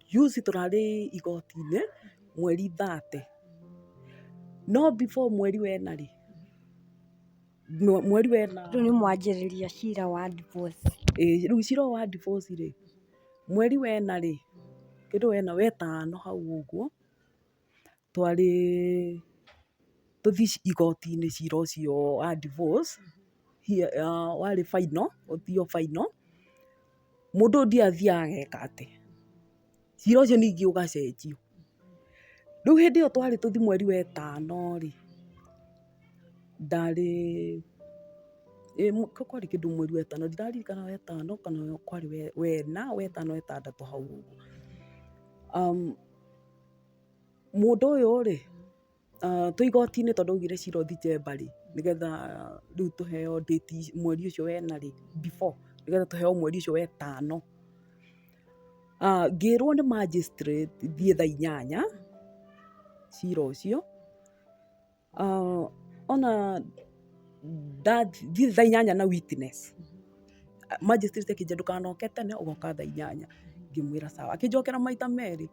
njuci tũrarĩ igoti-inĩ, mweri thate, no before mweri wena rĩ, mweri wa ĩna. Rĩu nĩ mwanjĩrĩria cira wa divorce. Ĩĩ rĩu cira ũyũ wa divorce rĩ, mweri wa ĩna rĩ, kĩndũ wena wetano hau ũguo, twarĩ tũthiĩ igoti-inĩ cira ũcio wa divorce, warĩ final, ũthiio final. Mũndũ ũyũ ndiathiaga ageka atĩ. cira ũcio ningĩ ũgacenjio. Rĩu hĩndĩ ĩyo twarĩ tũthiĩ mweri wetano rĩ, ndarĩ, kwarĩ kĩndũ mweri wetano, ndiraririkana wetano kana kwarĩ wena, wetano wetandatũ hau ũguo. Mũndũ ũyũ rĩ, Twĩ igoti-inĩ tondũ augire cira ũthite mbarĩ, nĩgetha rĩu tũheo ndĩti mweri ũcio wa ĩna rĩ, before nĩgetha tũheo mweri ũcio wa ĩtano. Ngĩrwo nĩ magistrate thiĩ thaa inyanya cira ũcio, ona... ndathiĩ thaa inyanya na witness, magistrate akĩnjĩra ndũkanoke tene ũgoka thaa inyanya, ngĩmwĩra sawa. Akĩnjokera maita merĩ,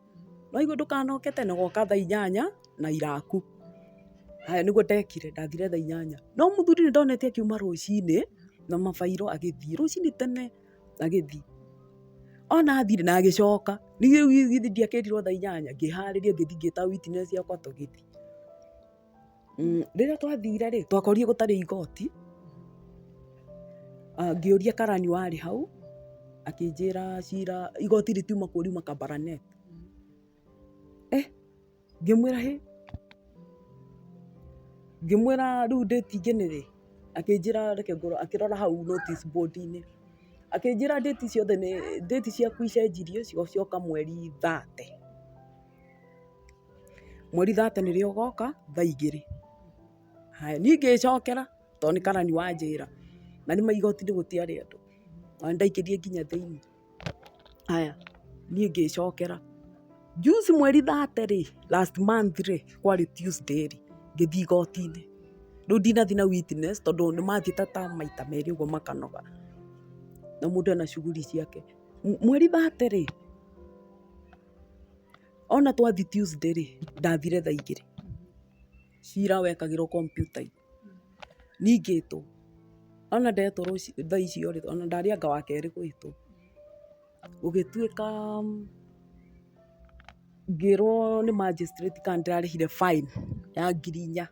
nĩwaigua ndũkanoke tene ũgoka thaa inyanya na iraku. Haya nĩguo ndekire, ndathire thaa inyanya. No mũthuri nĩndonete akiuma rũcinĩ na mabairo agĩthiĩ, rũcinĩ tene agĩthiĩ. Ona athire na agĩcoka, ningĩ rĩu githĩ ndiakerirwo thaa inyanya, ngĩharĩria ngĩthiĩ ngĩta witness yakwa tũgĩthiĩ. Rĩrĩa twathire rĩ, twakorire gũtarĩ igoti, ngĩũria karani warĩ hau, akĩnjĩra cira, igoti rĩtiuma kuo riuma Kabaraneti. Eh, ngĩmwĩra hĩ, ngĩmwĩra rĩu date ingine rĩ, akĩnjĩra reke ngorore, akĩrora hau notice board -inĩ, akĩnjĩra date ciothe nĩ, date ciaku icenjirio cigocoka mweri thate. Mweri thate nĩrĩo ũgoka thaa igĩrĩ. Haya, niĩ ngĩĩcokera to nĩ karani wanjĩra, na nĩ ma igoti-inĩ gũtiarĩ andũ, ona nĩ ndaingĩrire nginya thĩinĩ. Haya, niĩ ngĩĩcokera. Juzi mweri thate rĩ, last month rĩ, kwarĩ Tuesday rĩ, ngĩthiĩ igoti-inĩ. Rĩu ndinathiĩ na witness tondũ nĩ mathiĩte ta maita merĩ ũguo makanoga. Na mũndũ ena shughuli ciake. Mweri thate rĩ, Ona twathi Tuesday rĩ, ndathire thaa igĩrĩ. Cira wekagĩrwo kompiuta-inĩ. Ningĩtwo. Ona ndetwo rũci thaa icio rĩ, ona ndarĩ anga wa kerĩ gwĩtwo. Gũgĩtuĩka ngĩrwo nĩ magistrate kana ndĩrarĩhire fine ya ngiri inya.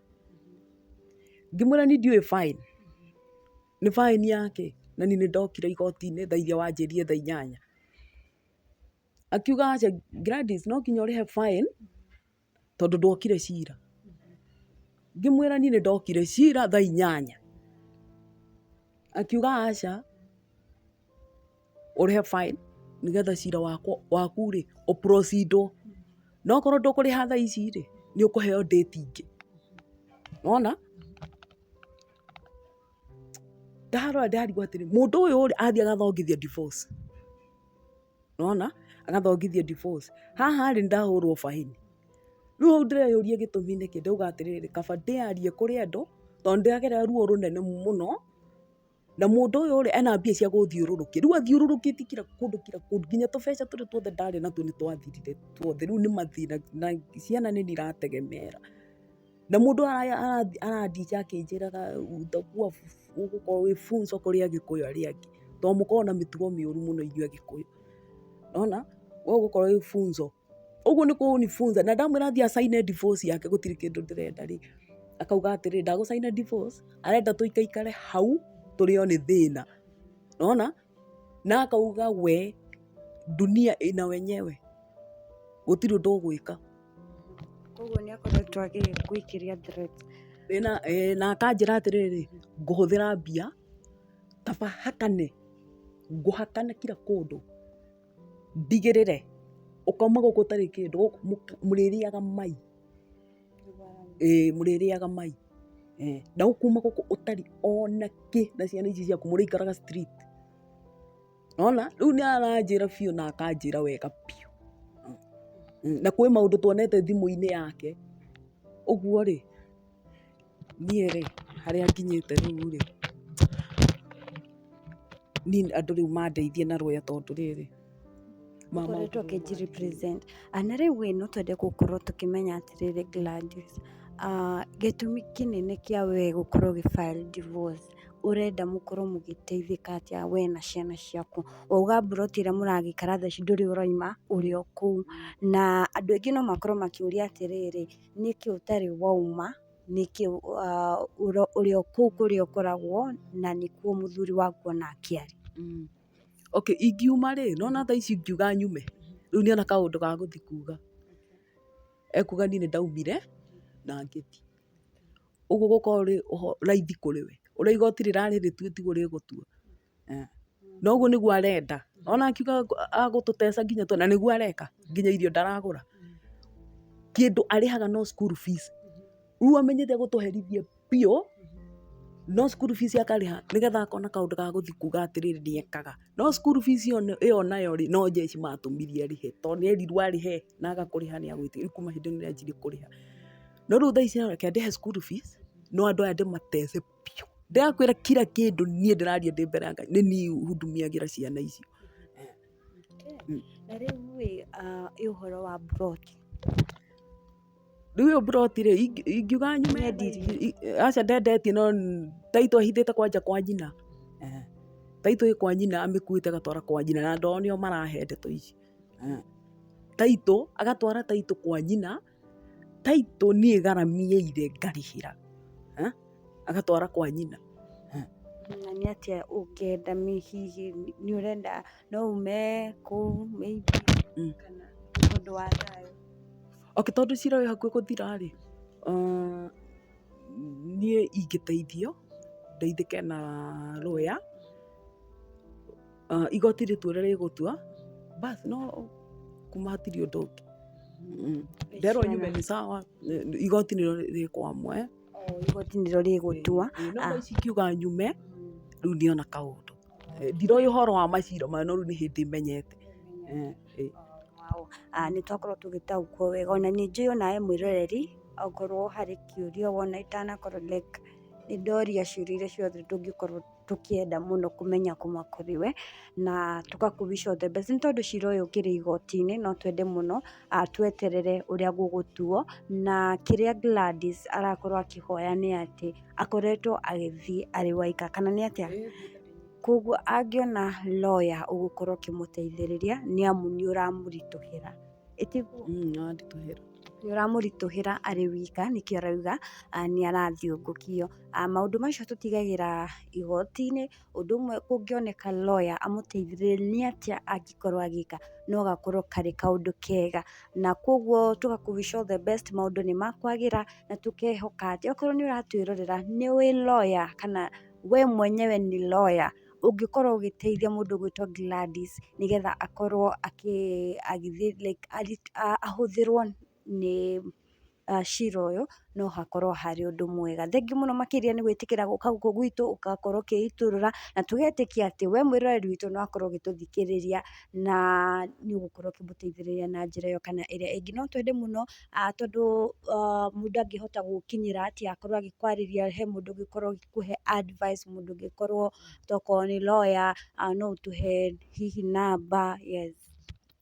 Ngĩmwĩra niĩ ndiũĩ fine. Nĩ fine ya kĩ? Na niĩ nĩ ndokire igoti-inĩ thaa irĩa wanjĩrire thaa inyanya. akiuga aca Gladys no nginya ũrĩhe fine tondũ ndwokire cira. Ngĩmwĩra niĩ nĩ ndokire cira thaa inyanya. Akiuga aca ũrĩhe fine nĩgetha cira wakwa waku rĩ ũ proceed wo. Na okorwo ndũkũrĩha thaa ici rĩ, nĩ ũkũheo date ingĩ. Nĩ wona? Ndarora ndarigwo atĩrĩ, mũndũ ũyũ rĩ athiĩ agathongithia divorce. nona agathongithio divorce haha rĩ ndahũrwo baini rĩu hau ndĩreyũria gĩtũmi nĩkĩ ndauga atĩrĩrĩ kaba ndĩyarie kũrĩ andũ tondũ ndĩragera ruo rũnene mũno na mũndũ ũyũ rĩ ena mbia cia gũthiũrũrũkia rĩu athiũrũrũkĩtie kira kũndũ kira kũndũ nginya tũbeca tũrĩa tuothe ndarĩ natuo nĩ twathirire tuothe rĩu nĩ mathĩna na ciana nĩ niratege mera. Na mũndũ arandinja akĩnjĩraga ũtakuwa ũgũkorwo wĩ full so kũrĩ Agĩkũyũ arĩa angĩ, tondũ mũkoragwo na mĩtugo mĩũru mũno ithuĩ Agĩkũyũ. Nĩwona? We ũgũkorwo wĩ full so. Ũguo nĩ kũnifunza. Na ndamwĩra athiĩ acaine divorce yake gũtirĩ kĩndũ ndĩrenda rĩ, akauga atĩrĩ, ndagũcaina divorce, arenda tũikaikare hau tũrĩo nĩ thĩna. Nĩwona? Na akauga we dunia ina wenyewe gũtirĩ ũndũ ũgwĩka. Koguo nĩ akoretwo agĩgwĩkĩria threat. Ĩ na ĩ na akanjĩra atĩrĩrĩ ngũhũthĩra mbia kaba hakane ngũhakane kira kũndũ ndigĩrĩre ũkauma gũkũ ũtarĩ kĩndũ mũrĩrĩaga mai. Ĩĩ mũrĩrĩaga mai. Na ũkuma gũkũ ũtarĩ ona kĩ na ciana ici ciaku mũrĩikaraga street. Nĩ wona? Rĩu nĩ aranjĩra biũ na akanjĩra wega biũ. Na kwĩ maũndũ tuonete thimũ-inĩ yake. Ũguo rĩ, niĩ rĩ, harĩa nginyĩte rĩu rĩ, niĩ andũ rĩu mandeithie na rũya tondũ rĩrĩ. tũkoretwo kĩnjirepresent Ah, na rĩu ĩ no twende gũkorwo tũkĩmenya atĩrĩrĩ Gladys ah, gĩtũmi kĩnene kĩa we gũkorwo gĩ file divorce ũrenda mũkorwo mũgĩteithĩka atĩa we na ciana ciaku wauga mburoti ĩrĩa mũragĩikara thaa ici ndũrĩ ũraima ũrĩ o kũu na andũ aingĩ no makorwo makĩũria atĩrĩrĩ nĩkĩ ũtarĩ wauma nĩkĩ ah, ũro- ũrĩ o kũu kũrĩa ũkoragwo na nĩkuo mũthuri waku onake arĩ Mm. Okay, ingiuma rĩ, nĩ wona thaa ici ingiuga nyume, rĩu nĩ ona kaũndũ ga gũthiĩ kuuga. Ekuuga niĩ nĩ ndaumire na ngĩthiĩ. Ũguo gũkoragwo kũrĩ raithi kũrĩ we. Ũrĩa igooti rĩrarĩ rĩtue tiguo rĩgũtua. Na ũguo nĩguo arenda. Nĩ wona akiuga agũtũteca nginya tene, na nĩguo areka. Nginya irio ndaragũra. Kĩndũ arĩhaga no school fees. Rĩu amenyete egũtũherithia. biũ, no school fees akarĩha nĩgetha akona kaũndũ ga gũthiĩ kuuga atĩrĩrĩ nĩ ekaga. No school fees ĩyo nayo rĩ, no njeci matũmire arĩhe to nĩ erirwo arĩhe na aga kũrĩha nĩ agwĩtio rĩu kuma hĩndĩ ĩyo nĩ anjirie kũrĩha. No rĩu thaa ici no reke ndĩhe school fees no andũ aya ndĩmatece biũ. Ndĩrakwĩra kira kĩndũ niĩ ndĩraria ndĩ mbere ya Ngai nĩ niĩ hundumiagĩra ciana icio. Na rĩu rĩ ũhoro wa mburoti? Rĩu ĩyo plot rĩ, ingiuga nyume aca ndendetie no title ahithĩte kwanja kwa nyina. Title ĩ kwa nyina amĩkuĩte agatwara kwa nyina na ndogo nĩo marahe ndeto ici. Title agatwara title kwa nyina, title niĩ ngaramĩire ngarĩhĩra agatwara kwa nyina. Na nĩ atĩa ũngĩenda hihi nĩ ũrenda No ume kũu maybe Mm. kana ũndũ wa thayũ. Okay, tondũ cira wĩ hakuhĩ gũthira rĩ, uh, niĩ ingĩteithio ndeithĩke na lawyer uh, igoti rĩtue ũrĩa rĩgũtua bas no kuma hatirĩ ũndũ ũngĩ Mm. nderwo nyume nĩ sawa eh, igoti nĩrĩo rĩkwamwe Oo, Igoti nĩrĩo rĩgũtua. no Ah. ici kiuga nyume rĩu niona kaũndũ ndiroĩ ũhoro wa macira mayo no rĩu nĩ hĩndĩ menyete. Nĩ twakorwo tũgĩtaũkwo wega ona nĩ njũĩ onawe mwĩroreri okorwo harĩ kĩũria wona itanakorwo like nĩ ndoria ciũria iria ciothe tũngĩkorwo tũkĩenda mũno kũmenya kuma kũrĩ we na tũga kũ wish all the best. Nĩ tondũ cira ũyũ ũkĩrĩ igoti-inĩ no twende mũno tweterere ũrĩa gũgũtuo na kĩrĩa Gladys arakorwo akĩhoya nĩ atĩ... akoretwo agĩthiĩ arĩ waika kana nĩ atĩa? Koguo angĩona lawyer ũgũkorwo ũkĩmũteithĩrĩria nĩ amu nĩ ũramũritũhĩra. Ĩtiguo? Nĩ ũramũritũhĩra arĩ wika nĩkĩo arauga nĩ arathiũngũkio. Maũndũ macio tũtigagĩra igoti-inĩ Ũndũ ũmwe kũngĩoneka lawyer amũteithĩrĩrie nĩ atĩa angĩkorwo agĩka, no gakorwo karĩ kaũndũ kega, na koguo tũga ku wish all the best maũndũ nĩ makwagĩra, na tũkehoka atĩ okorwo nĩ ũratwĩrorera nĩ wĩ lawyer kana we mwenyewe nĩ lawyer ũngĩkorwo ũgĩteithia mũndũ ũgwĩtwo Gladys nĩgetha akorwo akĩ like ahũthĩrwo. nĩ cira ũyũ no hakorwo harĩ ũndũ mwega. Thengiũ mũno makĩria nĩ gwĩtĩkĩra gũka gũkũ gwitũ, ũgakorwo ũkĩitũrũra, na tũgetĩkia atĩ we mwĩroreri witũ nĩ wakorwo ũgĩtũthikĩrĩria, na nĩ ũgũkorwo ũkĩmũteithĩrĩria na njĩra ĩyo kana ĩrĩa ĩngĩ. No twende mũno tondũ mũndũ ndangĩhota gũgũkinyĩra atĩ akorwo agĩkwarĩria he mũndũ ũngĩkorwo agĩkũhe advice, mũndũ ũngĩkorwo tokorwo nĩ lawyer, no ũtũhe hihi namba. Yes.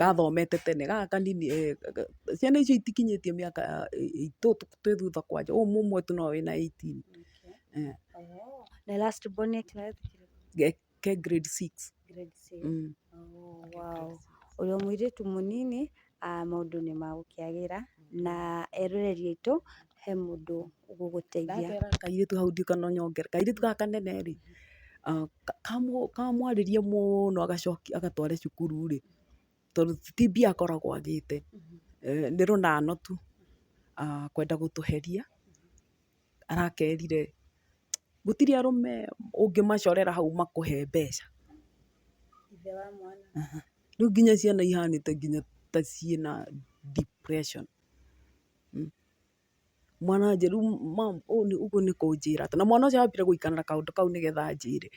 gathomete tene gaka kanini eeh ciana icio itikinyĩtie mĩaka itũ twĩ thutha kwanja ũyũ mũmwe tu no arĩ na eighteen eeh na last born e class kĩrĩkũ? ke grade six grade six wow ũrĩ o mũirĩtu mũnini maũndũ nĩ magũkĩagĩra na eroreri aitũ. he mũndũ ũgũgũteithia. Ndakera kairĩtu hau ndiũĩ kana ũnyongera, kairĩtu gaka kanene rĩ, kamwarĩrie mũno agacokia agatware cukuru rĩ, tondũ ti mbia akoragwo agĩte, nĩ rũnano tu, kwenda gũtũheria, arakerire, gũtirĩ arũme ũngĩmacorera hau makũhe mbeca. Rĩu nginya ciana ihanĩte nginya ta ciĩna depression. Mwana wa njeri, ũguo nĩ kũnjĩra atĩ, na mwana ũcio ambire gũikara na kaũndũ kau nĩ getha anjĩre.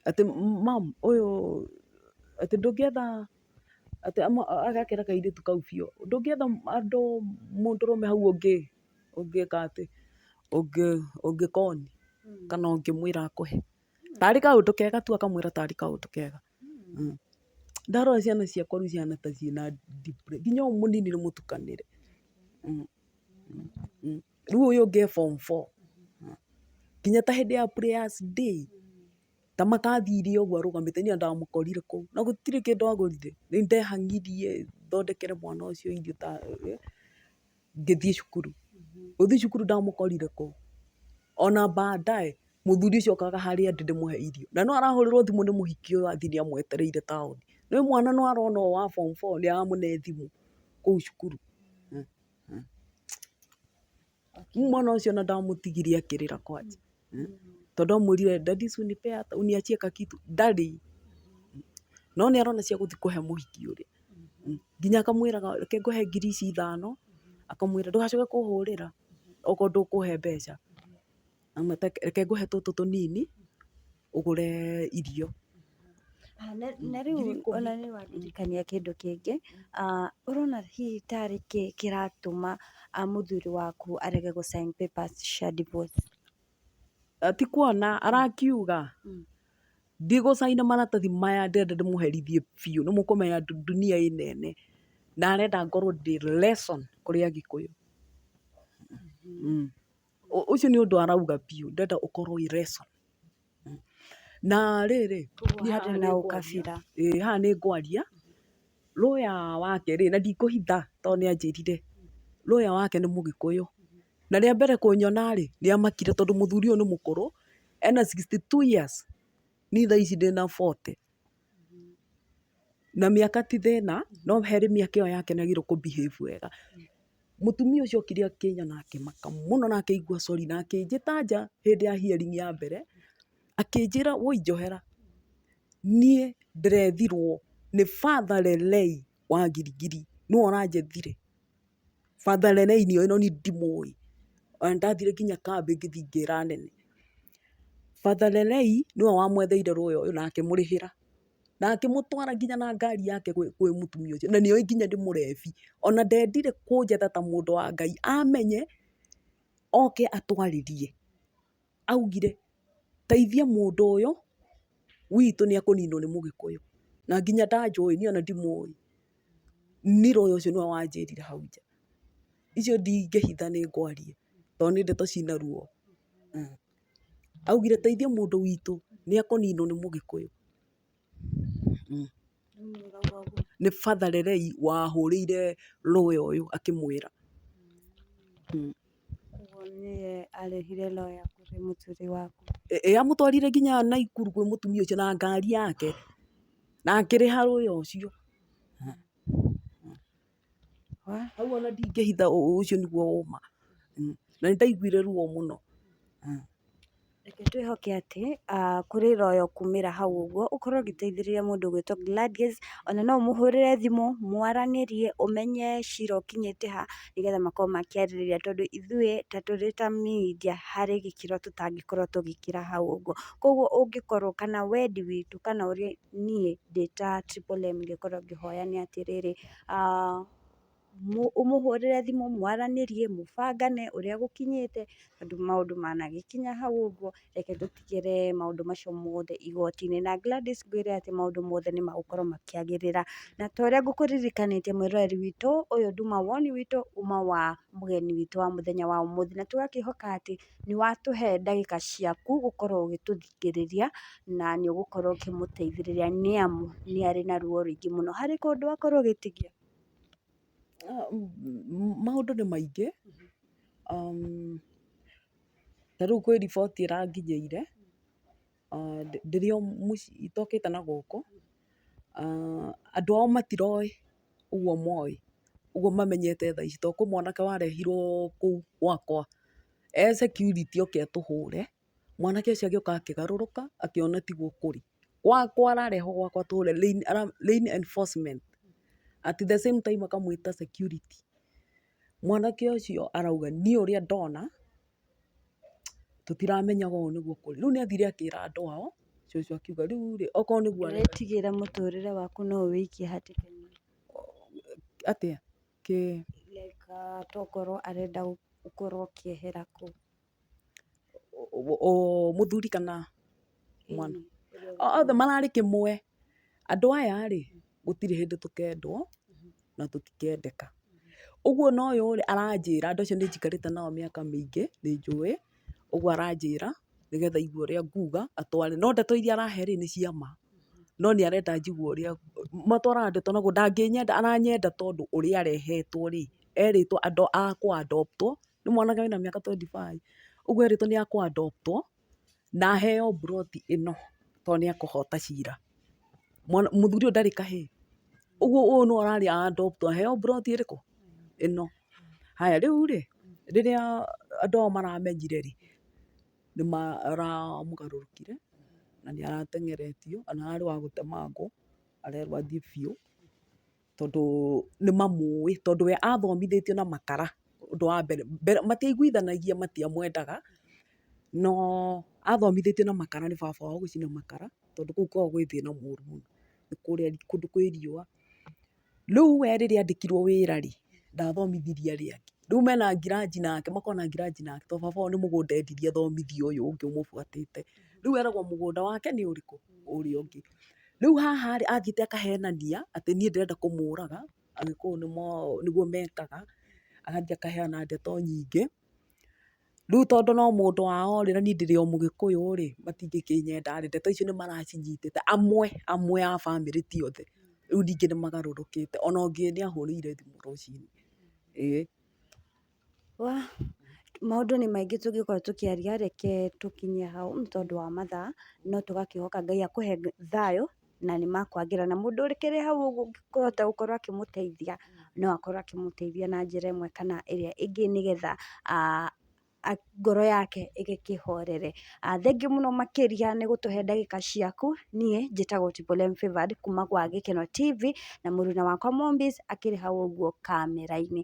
Atĩ mum ũyũ, atĩ ndũngĩetha, atĩ agakĩra kairĩtu kau biũ, ndũngĩetha andũ, mũndũrũme hau ũngĩ, ũngĩka atĩ, ũngĩkoni kana ũngĩmwĩra akũhe. Tarĩ kaũndũ kega tu akamwĩra tarĩ kaũndũ kega. Ndarora ciana ciakwa rĩu cihana ta ciĩ na depression. Nginya ũyũ mũnini nĩ mũtukanĩre. Rĩu ũyũ ũngĩ e form four. Nginya ta hĩndĩ ya prayers day, ta makathire ũguo arũgamĩte, niĩ ona ndamũkorire kũu. Na gũtirĩ kĩndũ agũrire. Nĩ ndehang'irie thondekere mwana ũcio irio ta. ngĩthiĩ cukuru. Gũthiĩ cukuru ndamũkorire kũ? Ona baadaye mũthuri ũcio okaga harĩa ndĩ ndĩmũhe irio. Na no arahũrĩrwo thimũ nĩ mũhiki ũyũ athiĩ nĩ amwetereire taũni. Nĩ mwana no arona ũyũ wa form four ũrĩa aramũhe thimũ kũu cukuru. Rĩu mwana ũcio ona ndamũtigire akĩrĩra kwanja. tondũ amwĩrire daddy usinipee hata uniachie kakitu ndarĩ, no nĩ arona cia gũthiĩ kũhe mũhiki ũrĩa, nginya akamwĩra reke ngũhe ngiri ici ithano, akamwĩra ndũgacoke kũhũrĩra okorwo ndũkũhe mbeca, reke ngũhe tũtũ tũnini ũgũre irio. Na rĩu ona niĩ wandirikania kĩndũ kĩngĩ, ũrona hihi tarĩ kĩ kĩratũma mũthuri waku arege gũ sign papers cia divorce? Ti kuona arakiuga, ndigũ sign maratathi maya ndĩrenda ndĩmũherithie biũ. Nĩ mũkũmenya dunia ĩno ene. Na arenda ngorwo ndĩ lesson kũrĩ Agĩkũyũ. Ũcio nĩ ũndũ arauga biũ. Ndĩrenda ũkorwo wĩ lesson. Na rĩrĩ, niĩ haha nĩ ngwaria, ĩĩ haha nĩ ngwaria, lawyer wake rĩ, na ndikũhitha to nĩ anjĩrire, lawyer wake nĩ mũgĩkũyũ. Na rĩa mbere kũnyona rĩ, nĩ amakire tondũ mũthuri ũyũ nĩ mũkũrũ, ena sixty two years, niĩ thaa ici ndĩna forty. Na mĩaka ti thĩna, no harĩ mĩaka ĩyo yake nĩ agĩrĩirwo kũ behave wega. Mũtumia ũcio okire akĩina na akĩmaka mũno na akĩigua sorry na akĩnjĩta nja hĩndĩ ya hearing ya mbere, akĩnjĩra woi njohera, niĩ ndĩrethirwo nĩ Father Lelei wa Gilgil, nĩwe ũranjethire. Father Leneinio ĩno niĩ ndimũĩ, ona nĩ ndathire nginya kambĩ ngĩthiĩ ngĩra anene. Father Lenei nĩwe wamwetheire lawyer ũyũ na akĩmũrĩhĩra, na akĩmũtwara nginya na ngari yake kwĩ mũtumia ũcio, na nĩ oĩ nginya ndĩ mũrebi. Ona ndendire kũnjetha ta mũndũ wa Ngai, amenye oke atwarĩrie. augire, teithia mũndũ ũyũ witũ nĩ ekũninwo nĩ mũgĩkũyũ, na nginya ndanjũĩ niĩ ona ndimũĩ, Nile ũyũ ũcio nĩwe wanjĩrire hau nja. Icio ndingĩhitha nĩ ngwaria tondũ nĩ ndeto ciĩna ruo. Augire teithia mũndũ witũ nĩ ekũninwo nĩ mũgĩkũyũ. Nĩ Father Lerei wahũrĩire lawyer ũyũ akĩmwĩra. Ĩĩ amũtwarire nginya Naikuru kwĩ mũtumia ũcio na ngari yake na akĩrĩha lawyer ũcio. hau ona ndingĩhitha ũcio nĩguo ũma na nĩ ndaiguire ruo mũno. Reke twĩhoke atĩ kũrĩ na ũyũ ũkumĩra hau ũguo ũkorwo ũgĩteithĩrĩria mũndũ ũgwĩtwo Gladys, ona no ũmũhũrĩre thimũ mwaranĩrie ũmenye cira ũkinyĩte ha nĩgetha makorwo makĩarĩrĩria tondũ ithuĩ ta tũrĩ ta media harĩ gĩkĩro tũtangĩkorwo tũgĩkĩra hau ũguo. Koguo ũngĩkorwo kana wendi witũ kana ũrĩa... niĩ ndĩ ta Triple M ingĩkorwo ngĩhoya nĩ atĩrĩrĩ, ũmũhũrĩre thimũ mwaranĩrie mũbangane ũrĩa gũkinyĩte tondũ maũndũ managĩkinya hau ũguo reke tũtigĩre maũndũ macio mothe igoti-inĩ. Na Gladys ngwĩre atĩ maũndũ mothe nĩ magũkorwo makĩagĩrĩra. Na ta ũrĩa ngũkũririkanĩtie mwĩroreri witũ, ũyũ nduma woni witũ uma wa mũgeni witũ wa mũthenya wa ũmũthĩ. Na tũgakĩhoka atĩ nĩ watũhe ndagĩka ciaku gũkorwo ũgĩtũthikĩrĩria. kũmũrigĩrĩria na nĩ ũgũkorwo ũkĩmũteithĩrĩria nĩ amu nĩ arĩ na ruo rũingĩ mũno. Harĩ kũndũ akorwo gĩtingĩ, maũndũ nĩ maingĩ, ta rĩu kwĩ riboti ĩranginyĩire, ndĩrĩ o mũciĩ, itokĩte na gũkũ, andũ ao matiroĩ ũguo moĩ, ũguo mamenyete thaa ici, to kwĩ mwanake warehirwo kũu gwakwa, e security oke atũhũre. mwanake ũcio agĩũka akĩgarũrũka akĩona tiguo kũrĩ, gwakwa ararehwo gwakwa tũre lain enforcement at the same time akamwĩta security. Mwanake ũcio arauga niĩ ũrĩa ndona tũtiramenyaga ũũ nĩguo kũrĩ. Rĩu nĩ athire akĩra andũ ao, cũcũ akiuga rĩu rĩ, okorwo nĩguo areka. Ũretigĩra mũtũrĩre waku no ũwĩikie hatĩka-inĩ. Atĩa? Kĩĩ? Like tokorwo arenda gũkorwo ũkĩehera kũu. mũthuri kana mwana, othe mararĩ kĩmwe. Andũ aya rĩ, gũtirĩ hĩndĩ tũkendwo na tũtikendeka. Ũguo ona ũyũ rĩ, aranjĩra, andũ acio nĩnjikarĩte nao mĩaka mĩingĩ, nĩnjũĩ, ũguo aranjĩra nĩgetha aigue ũrĩa nguga atware. No ndeto iria arahe rĩ, nĩ cia ma, no nĩarenda njigue ũrĩa, matwaraga ndeto naguo, ndangĩnyenda, aranyenda tondũ ũrĩa arehetwo rĩ, erĩtwo andũ akwa a adopt wo nĩ mwanake wĩna mĩaka twenty five, ũguo erĩtwo nĩ akũ adopt wo na aheo mburoti ĩno tondũ nĩ ekũhota cira. Mũthuri ũyũ ndarĩ kahĩĩ, ũguo ũyũ nĩwe ũrarĩ a adopt wo aheo mburoti ĩrĩkũ? ĩno. Haya rĩu rĩ, rĩrĩa andũ aya maramenyire rĩ, nĩ maramũgarũrũkire na nĩ arateng'eretio na ararĩ wa gũtemangwo arerwo athiĩ biũ. tondũ nĩ mamũĩ, tondũ we athomithĩtio na makara, ũndũ wa mbere. Matiaiguithanagia matiamwendaga, no athomithĩtio na makara nĩ baba wao gũcina makara, tondũ kũu kwao gwĩ thĩna mũru mũno. Nĩ kũrĩa kũndũ kwĩ riũa. Rĩu we rĩrĩa andĩkirwo wĩra rĩ, ndathomithirie arĩa angĩ. Rĩu mena ngiranji nake, makoragwo na ngiranji nake tondũ baba wao nĩ mũgũnda endirie athomithie ũyũ ũngĩ ũmũbuatĩte. Rĩu eragwo mũgũnda wake nĩ ũrĩkũ? Ũrĩa ũngĩ. Rĩu haha rĩ, athiĩte akahenania atĩ niĩ ndĩrenda kũmũraga, Agĩkũyũ nĩguo mekaga, agathiĩ akaheana ndeto nyingĩ. Rĩu tondũ no mũndũ wao rĩ, na niĩ ndĩrĩ o mũgĩkũyũ rĩ, matingĩkĩnyenda rĩ, ndeto icio nĩ maracinyitĩte, amwe amwe a bamĩrĩ ti othe. Rĩu ningĩ nĩ magarũrũkĩte. Ona ũngĩ nĩ ahũrĩire thimũ rũcinĩ. Ĩĩ. Wa, maũndũ nĩ maingĩ tũngĩkorwo tũkĩaria, reke tũkinye hau nĩ tondũ wa mathaa, no tũgakĩhoka Ngai akũhe thayũ, na nĩ makwagĩra. Na mũndũ ũkĩrĩ hau ũguo ũngĩkĩhota gũkorwo akĩmũteithia, no akorwo akĩmũteithia na njĩra ĩmwe kana ĩrĩa ĩngĩ nĩgetha ngoro yake ĩgĩkĩhorere. Thengiũ mũno makĩria nĩ gũtũhe ndagĩka ciaku, niĩ njĩtagwo Tipolem Favored kuuma gwa Gĩkeno TV, na mũruna wakwa Mombiz akĩrĩ hau ũguo kamera-inĩ.